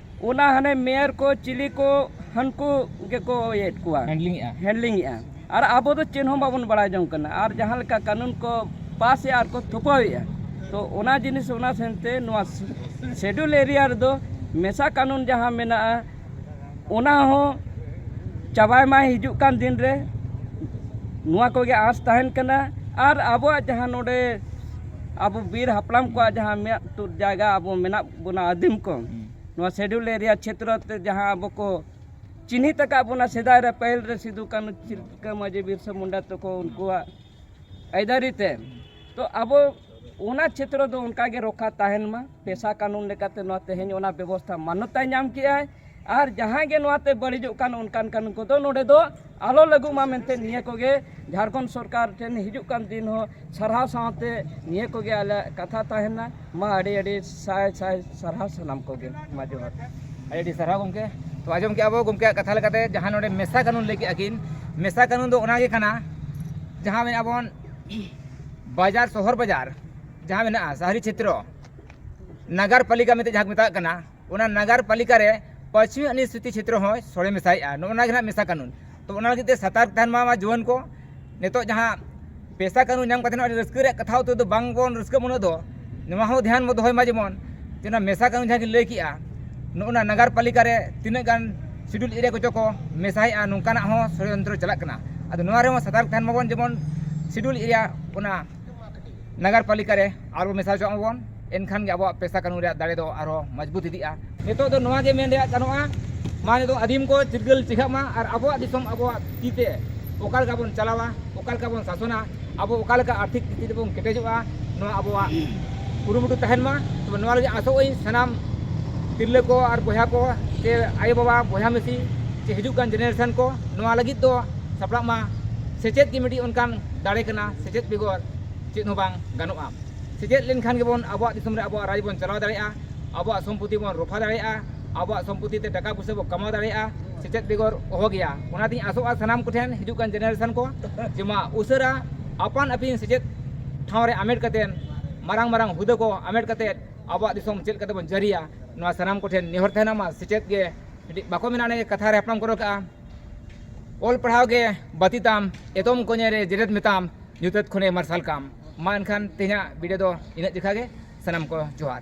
ᱚᱱᱟ ᱦᱟᱱᱮ ᱢᱮᱭᱚᱨ ᱠᱚ ᱪᱤᱞᱤ ᱠᱚ ᱦᱟᱹᱱᱠᱩ ᱜᱮᱠᱚ ᱤᱭᱟᱹᱭᱮᱫ ᱠᱚᱣᱟ ᱦᱮᱱᱰᱞᱤᱝᱮᱜᱼᱟ ᱦᱮᱱᱰᱞᱤᱝᱮᱜᱼᱟ ᱟᱨ ᱟᱵᱚ ᱫᱚ ᱪᱮᱫ ᱦᱚᱸ ᱵᱟᱵᱚᱱ ᱵᱟᱲᱟᱭ ᱡᱚᱝ ᱠᱟᱱᱟ ᱟᱨ ᱡᱟᱦᱟᱸ ᱞᱮᱠᱟ ᱠᱟᱹᱱᱩᱱ ᱠᱚ ᱯᱟᱥᱮᱜᱼᱟ ᱟᱨ ᱠᱚ ᱛᱷᱳᱯᱟᱣᱮᱜᱼᱟ ᱛᱚ ᱚᱱᱟ ᱡᱤᱱᱤᱥ ᱚᱱᱟ ᱥᱮᱱᱛᱮ ᱱᱚᱣᱟ ᱥᱤᱰᱩᱞ ᱮᱨᱤᱭᱟ ᱨᱮᱫᱚ ᱢᱮᱥᱟ ᱠᱟᱹᱱᱩᱱ ᱡᱟᱦᱟᱸ ᱢᱮᱱᱟᱜᱼᱟ ᱚᱱᱟ ᱦᱚᱸ ᱪᱟᱵᱟᱭ ᱢᱟᱭ ᱦᱤᱡᱩᱜ ᱠᱟᱱ ᱫᱤᱱ ᱨᱮ ᱱᱚᱣᱟ ᱠᱚᱜᱮ ᱟᱸᱥ ᱛᱟᱦᱮᱱ ᱠᱟᱱᱟ ᱟᱨ ᱟᱵᱚᱣᱟᱜ ᱡᱟᱦᱟᱸ ᱱᱚᱰᱮ ᱟᱵᱚ ᱵᱤᱨ ᱦᱟᱯᱲᱟᱢ ᱠᱚᱣᱟᱜ ᱡᱟᱦᱟᱸ ᱢᱮᱫ ᱛᱩᱫ ᱡᱟᱭᱜᱟ ᱟᱵᱚ ᱢᱮᱱᱟᱜ ᱵᱚᱱᱟ ᱟᱹᱫᱤᱢ ᱠᱚ ᱱᱚᱣᱟ ᱥᱮᱰᱩᱞ ᱮᱨᱤᱭᱟ ᱪᱷᱮᱛᱨᱚ ᱛᱮ ᱡᱟᱦᱟᱸ ᱟᱵᱚ ᱠᱚ ᱪᱤᱱᱦᱤᱛ ᱟᱠᱟᱫ ᱵᱚᱱᱟ ᱥᱮᱫᱟᱭ ᱨᱮ ᱯᱟᱹᱦᱤᱞ ᱨᱮ ᱥᱤᱫᱩ ᱠᱟᱹᱱᱩ ᱛᱤᱞᱠᱟᱹ ᱢᱟᱹᱡᱷᱤ ᱵᱤᱨᱥᱟ ᱢᱩᱱᱰᱟ ᱛᱟᱠᱚ ᱩᱱᱠᱩᱣᱟᱜ ᱟᱹᱭᱫᱟᱹᱨᱤ ᱛᱮ ᱛᱚ ᱟᱵᱚ ᱚᱱᱟ ᱪᱷᱮᱛᱨᱚ ᱫᱚ ᱚᱱᱠᱟᱜᱮ ᱨᱚᱠᱠᱷᱟ ᱛᱟᱦᱮᱱ ᱢᱟ ᱯᱮᱥᱟ ᱠᱟᱹᱱᱩᱱ ᱞᱮᱠᱟᱛᱮ ᱱᱚᱣᱟ ᱛᱮᱦᱮᱧ ᱚᱱᱟ ᱵᱮᱵᱚᱥᱛᱷᱟ ᱢᱟᱱᱱᱚᱛᱟᱭ ᱧᱟᱢ ᱠᱮᱜᱼᱟᱭ ᱟᱨ ᱡᱟᱦᱟᱸᱭ ᱜᱮ ᱱᱚᱣᱟ ᱛᱮ ᱵᱟᱹᱲᱤᱡᱚᱜ ᱠᱟᱱ ᱚᱱᱠᱟᱱ ᱠᱟᱱ ᱩᱱᱠᱩ ᱫᱚ ᱱᱚᱰᱮ ᱫᱚ ᱟᱞᱚ ᱞᱟᱹᱜᱩᱜ ᱢᱟ ᱢᱮᱱᱛᱮ ᱱᱤᱭᱟᱹ ᱠᱚᱜᱮ ᱡᱷᱟᱲᱠᱷᱚᱸᱰ ᱥᱚᱨᱠᱟᱨ ᱴᱷᱮᱱ ᱦᱤᱡᱩᱜ ᱠᱟᱱ ᱫᱤᱱ ᱦᱚᱸ ᱥᱟᱨᱦᱟᱣ ᱥᱟᱶᱛᱮ ᱱᱤᱭᱟᱹ ᱠᱚᱜᱮ ᱟᱞᱮᱭᱟᱜ ᱠᱟᱛᱷᱟ ᱛᱟᱦᱮᱱᱟ ᱢᱟ ᱟᱹᱰᱤ ᱟᱹᱰᱤ ᱥᱟᱭ ᱥᱟᱭ ᱥᱟᱨᱦᱟᱣ ᱥᱟᱱᱟᱢ ᱠᱚᱜᱮ ᱢᱟ ᱡᱚᱦᱟᱨ ᱟᱹᱰᱤ ᱟᱹᱰᱤ ᱥᱟᱨᱦᱟᱣ ᱜᱚᱢᱠᱮ ᱛᱚ ᱟᱸᱡᱚᱢ ᱠᱮᱜᱼᱟ ᱵᱚ ᱜᱚᱢᱠᱮᱭᱟᱜ ᱠᱟᱛᱷᱟ ᱞᱮᱠᱟᱛᱮ ᱡᱟᱦᱟᱸ ᱱᱚᱰᱮ ᱢᱮᱥᱟ ᱠᱟᱹᱱᱩᱱ ᱞᱟᱹᱭ ᱠᱮᱜᱼᱟ ᱠᱤᱱ ᱢᱮᱥᱟ ᱠᱟᱹᱱᱩᱱ ᱫᱚ ᱚᱱᱟᱜᱮ ᱠᱟᱱᱟ ᱡᱟᱦᱟᱸ ᱢᱮᱱᱟᱜ ᱵᱚᱱ ᱵᱟᱡᱟᱨ ᱥᱚᱦᱚᱨ ᱵᱟᱡᱟᱨ ᱡᱟᱦᱟᱸ ᱢᱮᱱᱟᱜᱼᱟ ᱥᱟᱦᱨᱤ ᱪᱷᱮᱛᱨᱚ ᱱᱟᱜᱟᱨ ᱯᱟᱞᱤᱠᱟ ᱢᱮᱱᱛᱮ ᱡᱟᱦᱟᱸ ᱠᱚ ᱢᱮᱛᱟᱜ ᱠᱟᱱᱟ ᱚᱱᱟ ᱱᱟᱜᱟᱨ ᱯᱟᱞᱤᱠᱟ ᱨᱮ ᱯᱟᱪᱷᱮ ᱩᱱᱤ ᱥᱨᱤᱛᱤ ᱪᱷᱮᱛᱨᱚ ᱦᱚᱸᱭ ᱥᱚᱲᱮ ᱢᱮᱥᱟᱭᱮᱜᱼᱟ ᱱᱚᱜᱼᱚ ᱱᱚᱣᱟ ᱜᱮ ᱦᱟᱸᱜ ᱢᱮᱥᱟ ᱠᱟᱹᱱᱩᱱ ᱛᱚ ᱚᱱᱟ ᱞᱟᱹᱜᱤᱫ ᱛᱮ ᱥᱟᱛᱟᱨ ᱛᱟᱦᱮᱱ ᱢᱟ ᱡᱩᱣᱟᱹᱱ ᱠᱚ ᱱᱤᱛᱚᱜ ᱡᱟᱦᱟᱸ ᱯᱮᱥᱟ ᱠᱟᱹᱱᱩᱱ ᱧᱟᱢ ᱠᱟᱛᱮ ᱟᱹᱰᱤ ᱨᱟᱹᱥᱠᱟᱹ ᱨᱮᱭᱟᱜ ᱠᱟᱛᱷᱟ ᱩᱛᱟᱹᱨ ᱫᱚ ᱵᱟᱝ ᱵᱚᱱ ᱨᱟᱹᱥᱠᱟᱹᱜ ᱩᱱᱟᱹᱜ ᱫᱚ ᱱᱚᱣᱟ ᱦᱚᱸ ᱫᱷᱮᱭᱟᱱ ᱵᱚᱱ ᱫᱚᱦᱚᱭ ᱢᱟ ᱡᱮᱢᱚᱱ ᱡᱮ ᱚᱱᱟ ᱢᱮᱥᱟ ᱠᱟᱹᱱᱩᱱ ᱡᱟᱦᱟᱸ ᱜᱮᱧ ᱞᱟᱹᱭ ᱠᱮᱜᱼᱟ ᱱᱚᱜᱼᱚ ᱱᱟ ᱱᱟᱜᱟᱨ ᱯᱟᱞᱤᱠᱟ ᱨᱮ ᱛᱤᱱᱟᱹᱜ ᱜᱟᱱ ᱥᱤᱰᱩᱞ ᱮᱨᱤᱭᱟ ᱠᱚᱪᱚ ᱠᱚ ᱢᱮᱥᱟᱭᱮᱜᱼᱟ ᱱᱚᱝᱠᱟᱱᱟᱜ ᱦᱚᱸ ᱥᱚᱲᱭᱚᱱᱛᱨᱚ ᱪᱟᱞᱟᱜ ᱠᱟᱱᱟ ᱟᱫᱚ ᱱᱚᱣᱟ ᱨᱮᱦᱚᱸ ᱥᱟᱛᱟᱨᱠ ᱛᱟᱦᱮᱱ ᱢᱟᱵᱚᱱ ᱡᱮᱢᱚᱱ ᱥᱤᱰᱩᱞ ᱮᱨᱤᱭᱟ ᱚᱱᱟ ᱱᱟᱜᱟᱨ ᱯᱟᱞᱤᱠᱟ ᱨᱮ ᱟᱨᱚ ᱢᱮᱥᱟ ᱦᱚᱪᱚᱜ ᱢᱟᱵᱚᱱ ᱮᱱᱠᱷᱟᱱ ᱜᱮ ᱟᱵᱚᱣᱟᱜ ᱯᱮᱥᱟ ᱠᱟᱹᱱᱩᱱ ᱨᱮᱭᱟᱜ ᱫᱟᱲᱮ ᱫᱚ ᱟᱨᱚ ᱢᱚᱡᱽᱵᱩᱛ ᱤᱫᱤᱜᱼᱟ ᱱᱤᱛᱚᱜ ᱫᱚ ᱱᱚᱣᱟ ᱜᱮ ᱢᱮᱱ ᱨᱮᱭᱟᱜ ᱜᱟᱱᱚᱜᱼᱟ ᱢᱟ ᱱᱤᱛᱚᱜ ᱟᱹᱫᱤᱢ ᱠᱚ ᱪᱤᱨᱜᱟᱹᱞ ᱪᱮᱸᱜᱷᱟᱜ ᱢᱟ ᱟᱨ ᱟᱵᱚᱣᱟᱜ ᱫᱤᱥᱚᱢ ᱟᱵᱚᱣᱟᱜ ᱛᱤ ᱛᱮ ᱚᱠᱟ ᱞᱮᱠᱟ ᱵᱚᱱ ᱪᱟᱞᱟᱣᱟ ᱚᱠᱟ ᱞᱮᱠᱟ ᱵᱚᱱ ᱥᱟᱥᱚᱱᱟ ᱟᱵᱚ ᱚᱠᱟ ᱞᱮᱠᱟ ᱟᱨᱛᱷᱤᱠ ᱛᱤᱛᱷᱤ ᱛᱮᱵᱚᱱ ᱠᱮᱴᱮᱡᱚᱜᱼᱟ ᱱᱚᱣᱟ ᱟᱵᱚᱣᱟᱜ ᱠᱩᱨᱩᱢᱩᱴᱩ ᱛᱟᱦᱮᱱ ᱢᱟ ᱛᱚᱵᱮ ᱱᱚᱣᱟ ᱞᱟᱹᱜᱤᱫ ᱟᱥᱚᱜ ᱟᱹᱧ ᱥᱟᱱᱟᱢ ᱛᱤᱨᱞᱟᱹ ᱠᱚ ᱟᱨ ᱵᱚᱭᱦᱟ ᱠᱚ ᱥᱮ ᱟᱭᱳ ᱵᱟᱵᱟ ᱵᱚᱭᱦᱟ ᱢᱤᱥᱤ ᱥᱮ ᱦᱤᱡᱩᱜ ᱠᱟᱱ ᱡᱮᱱᱮᱨᱮᱥᱚᱱ ᱠᱚ ᱱᱚᱣᱟ ᱞᱟᱹᱜᱤᱫ ᱫᱚ ᱥᱟᱯᱲᱟᱜ ᱢᱟ ᱥᱮᱪᱮᱫ ᱜᱮ ᱢᱤᱫᱴᱤᱡ ᱚᱱᱠᱟᱱ ᱫᱟᱲᱮ ᱠᱟᱱᱟ ᱥᱮᱪᱮᱫ ᱵᱮᱜᱚᱨ ᱪᱮᱫ ᱦᱚᱸ ᱵᱟᱝ ᱜᱟᱱᱚᱜᱼᱟ ᱥᱮᱪᱮᱫ ᱞᱮᱱᱠᱷᱟᱱ ᱜᱮᱵᱚᱱ ᱟᱵᱚᱣᱟᱜ ᱫᱤᱥᱚᱢ ᱨᱮ ᱟᱵᱚᱣᱟᱜ ᱨᱟᱡᱽ ᱵᱚᱱ ᱪᱟᱞᱟᱣ ᱫᱟᱲᱮᱭᱟᱜᱼᱟ ᱟᱵᱚᱣᱟᱜ ᱥᱚᱢᱯᱚᱛᱤ ᱵᱚᱱ ᱨᱚᱯᱷᱟ ᱫᱟᱲᱮᱭᱟᱜᱼᱟ ᱟᱵᱚᱣᱟᱜ ᱥᱚᱢᱯᱚᱛᱤ ᱛᱮ ᱴᱟᱠᱟ ᱯᱚᱭᱥᱟ ᱵᱚᱱ ᱠᱟᱢᱟᱣ ᱫᱟᱲᱮᱭᱟᱜᱼᱟ ᱥᱮᱪᱮᱫ ᱵᱮᱜᱚᱨ ᱚᱦᱚ ᱜᱮᱭᱟ ᱚᱱᱟᱛᱤᱧ ᱟᱥᱚᱜᱼᱟ ᱥᱟᱱᱟᱢ ᱠᱚᱴᱷᱮᱱ ᱦᱤᱡᱩᱜ ᱠᱟᱱ ᱡᱮᱱᱟᱨᱮᱥᱚᱱ ᱠᱚ ᱡᱮ ᱢᱟ ᱩᱥᱟᱹᱨᱟ ᱟᱯᱟᱱ ᱟᱹᱯᱤᱱ ᱥᱮᱪᱮᱫ ᱴᱷᱟᱶ ᱨᱮ ᱦᱟᱢᱮᱴ ᱠᱟᱛᱮ ᱢᱟᱨᱟᱝ ᱢᱟᱨᱟᱝ ᱦᱩᱫᱟᱹ ᱠᱚ ᱦᱟᱢᱮᱴ ᱠᱟᱛᱮ ᱟᱵᱚᱣᱟᱜ ᱫᱤᱥᱚᱢ ᱪᱮᱫ ᱞᱮᱠᱟᱛᱮᱵᱚᱱ ᱡᱟᱹᱨᱤᱭᱟ ᱱᱚᱣᱟ ᱥᱟᱱᱟᱢ ᱠᱚᱴᱷᱮᱱ ᱱᱮᱦᱚᱨ ᱛᱟᱦᱮᱱᱟ ᱢᱟ ᱥᱮᱪᱮᱫ ᱜᱮ ᱢᱤᱫᱴᱤᱡ ᱵᱟᱠᱚ ᱢᱮᱱᱟ ᱚᱱᱮ ᱠᱟᱛᱷᱟ ᱨᱮ ᱦᱟᱯᱲᱟᱢ ᱠᱚ ᱨᱚᱲ ᱠᱟᱜᱼᱟ ᱚᱞ ᱯᱟᱲᱦᱟᱣ ᱜᱮ ᱵᱟᱹᱛᱤ ᱛᱟᱢ ᱮᱛᱚᱢ ᱠᱚᱧᱮ ᱨᱮ ᱡᱮᱨᱮᱫ ᱢᱮᱛᱟᱢ ᱧᱩᱛᱟᱹᱛ ᱠᱷᱚᱱᱮ ᱢᱟᱨᱥᱟᱞ ᱠᱟᱢ ᱢᱟ ᱮᱱᱠᱷᱟᱱ ᱛᱮᱦᱮᱧᱟᱜ ᱵᱷᱤᱰᱤᱭᱳ ᱫᱚ ᱤᱱᱟᱹᱜ ᱡᱮᱠᱷᱟ ᱜᱮ ᱥᱟᱱᱟᱢ ᱠᱚ ᱡᱚᱦᱟᱨ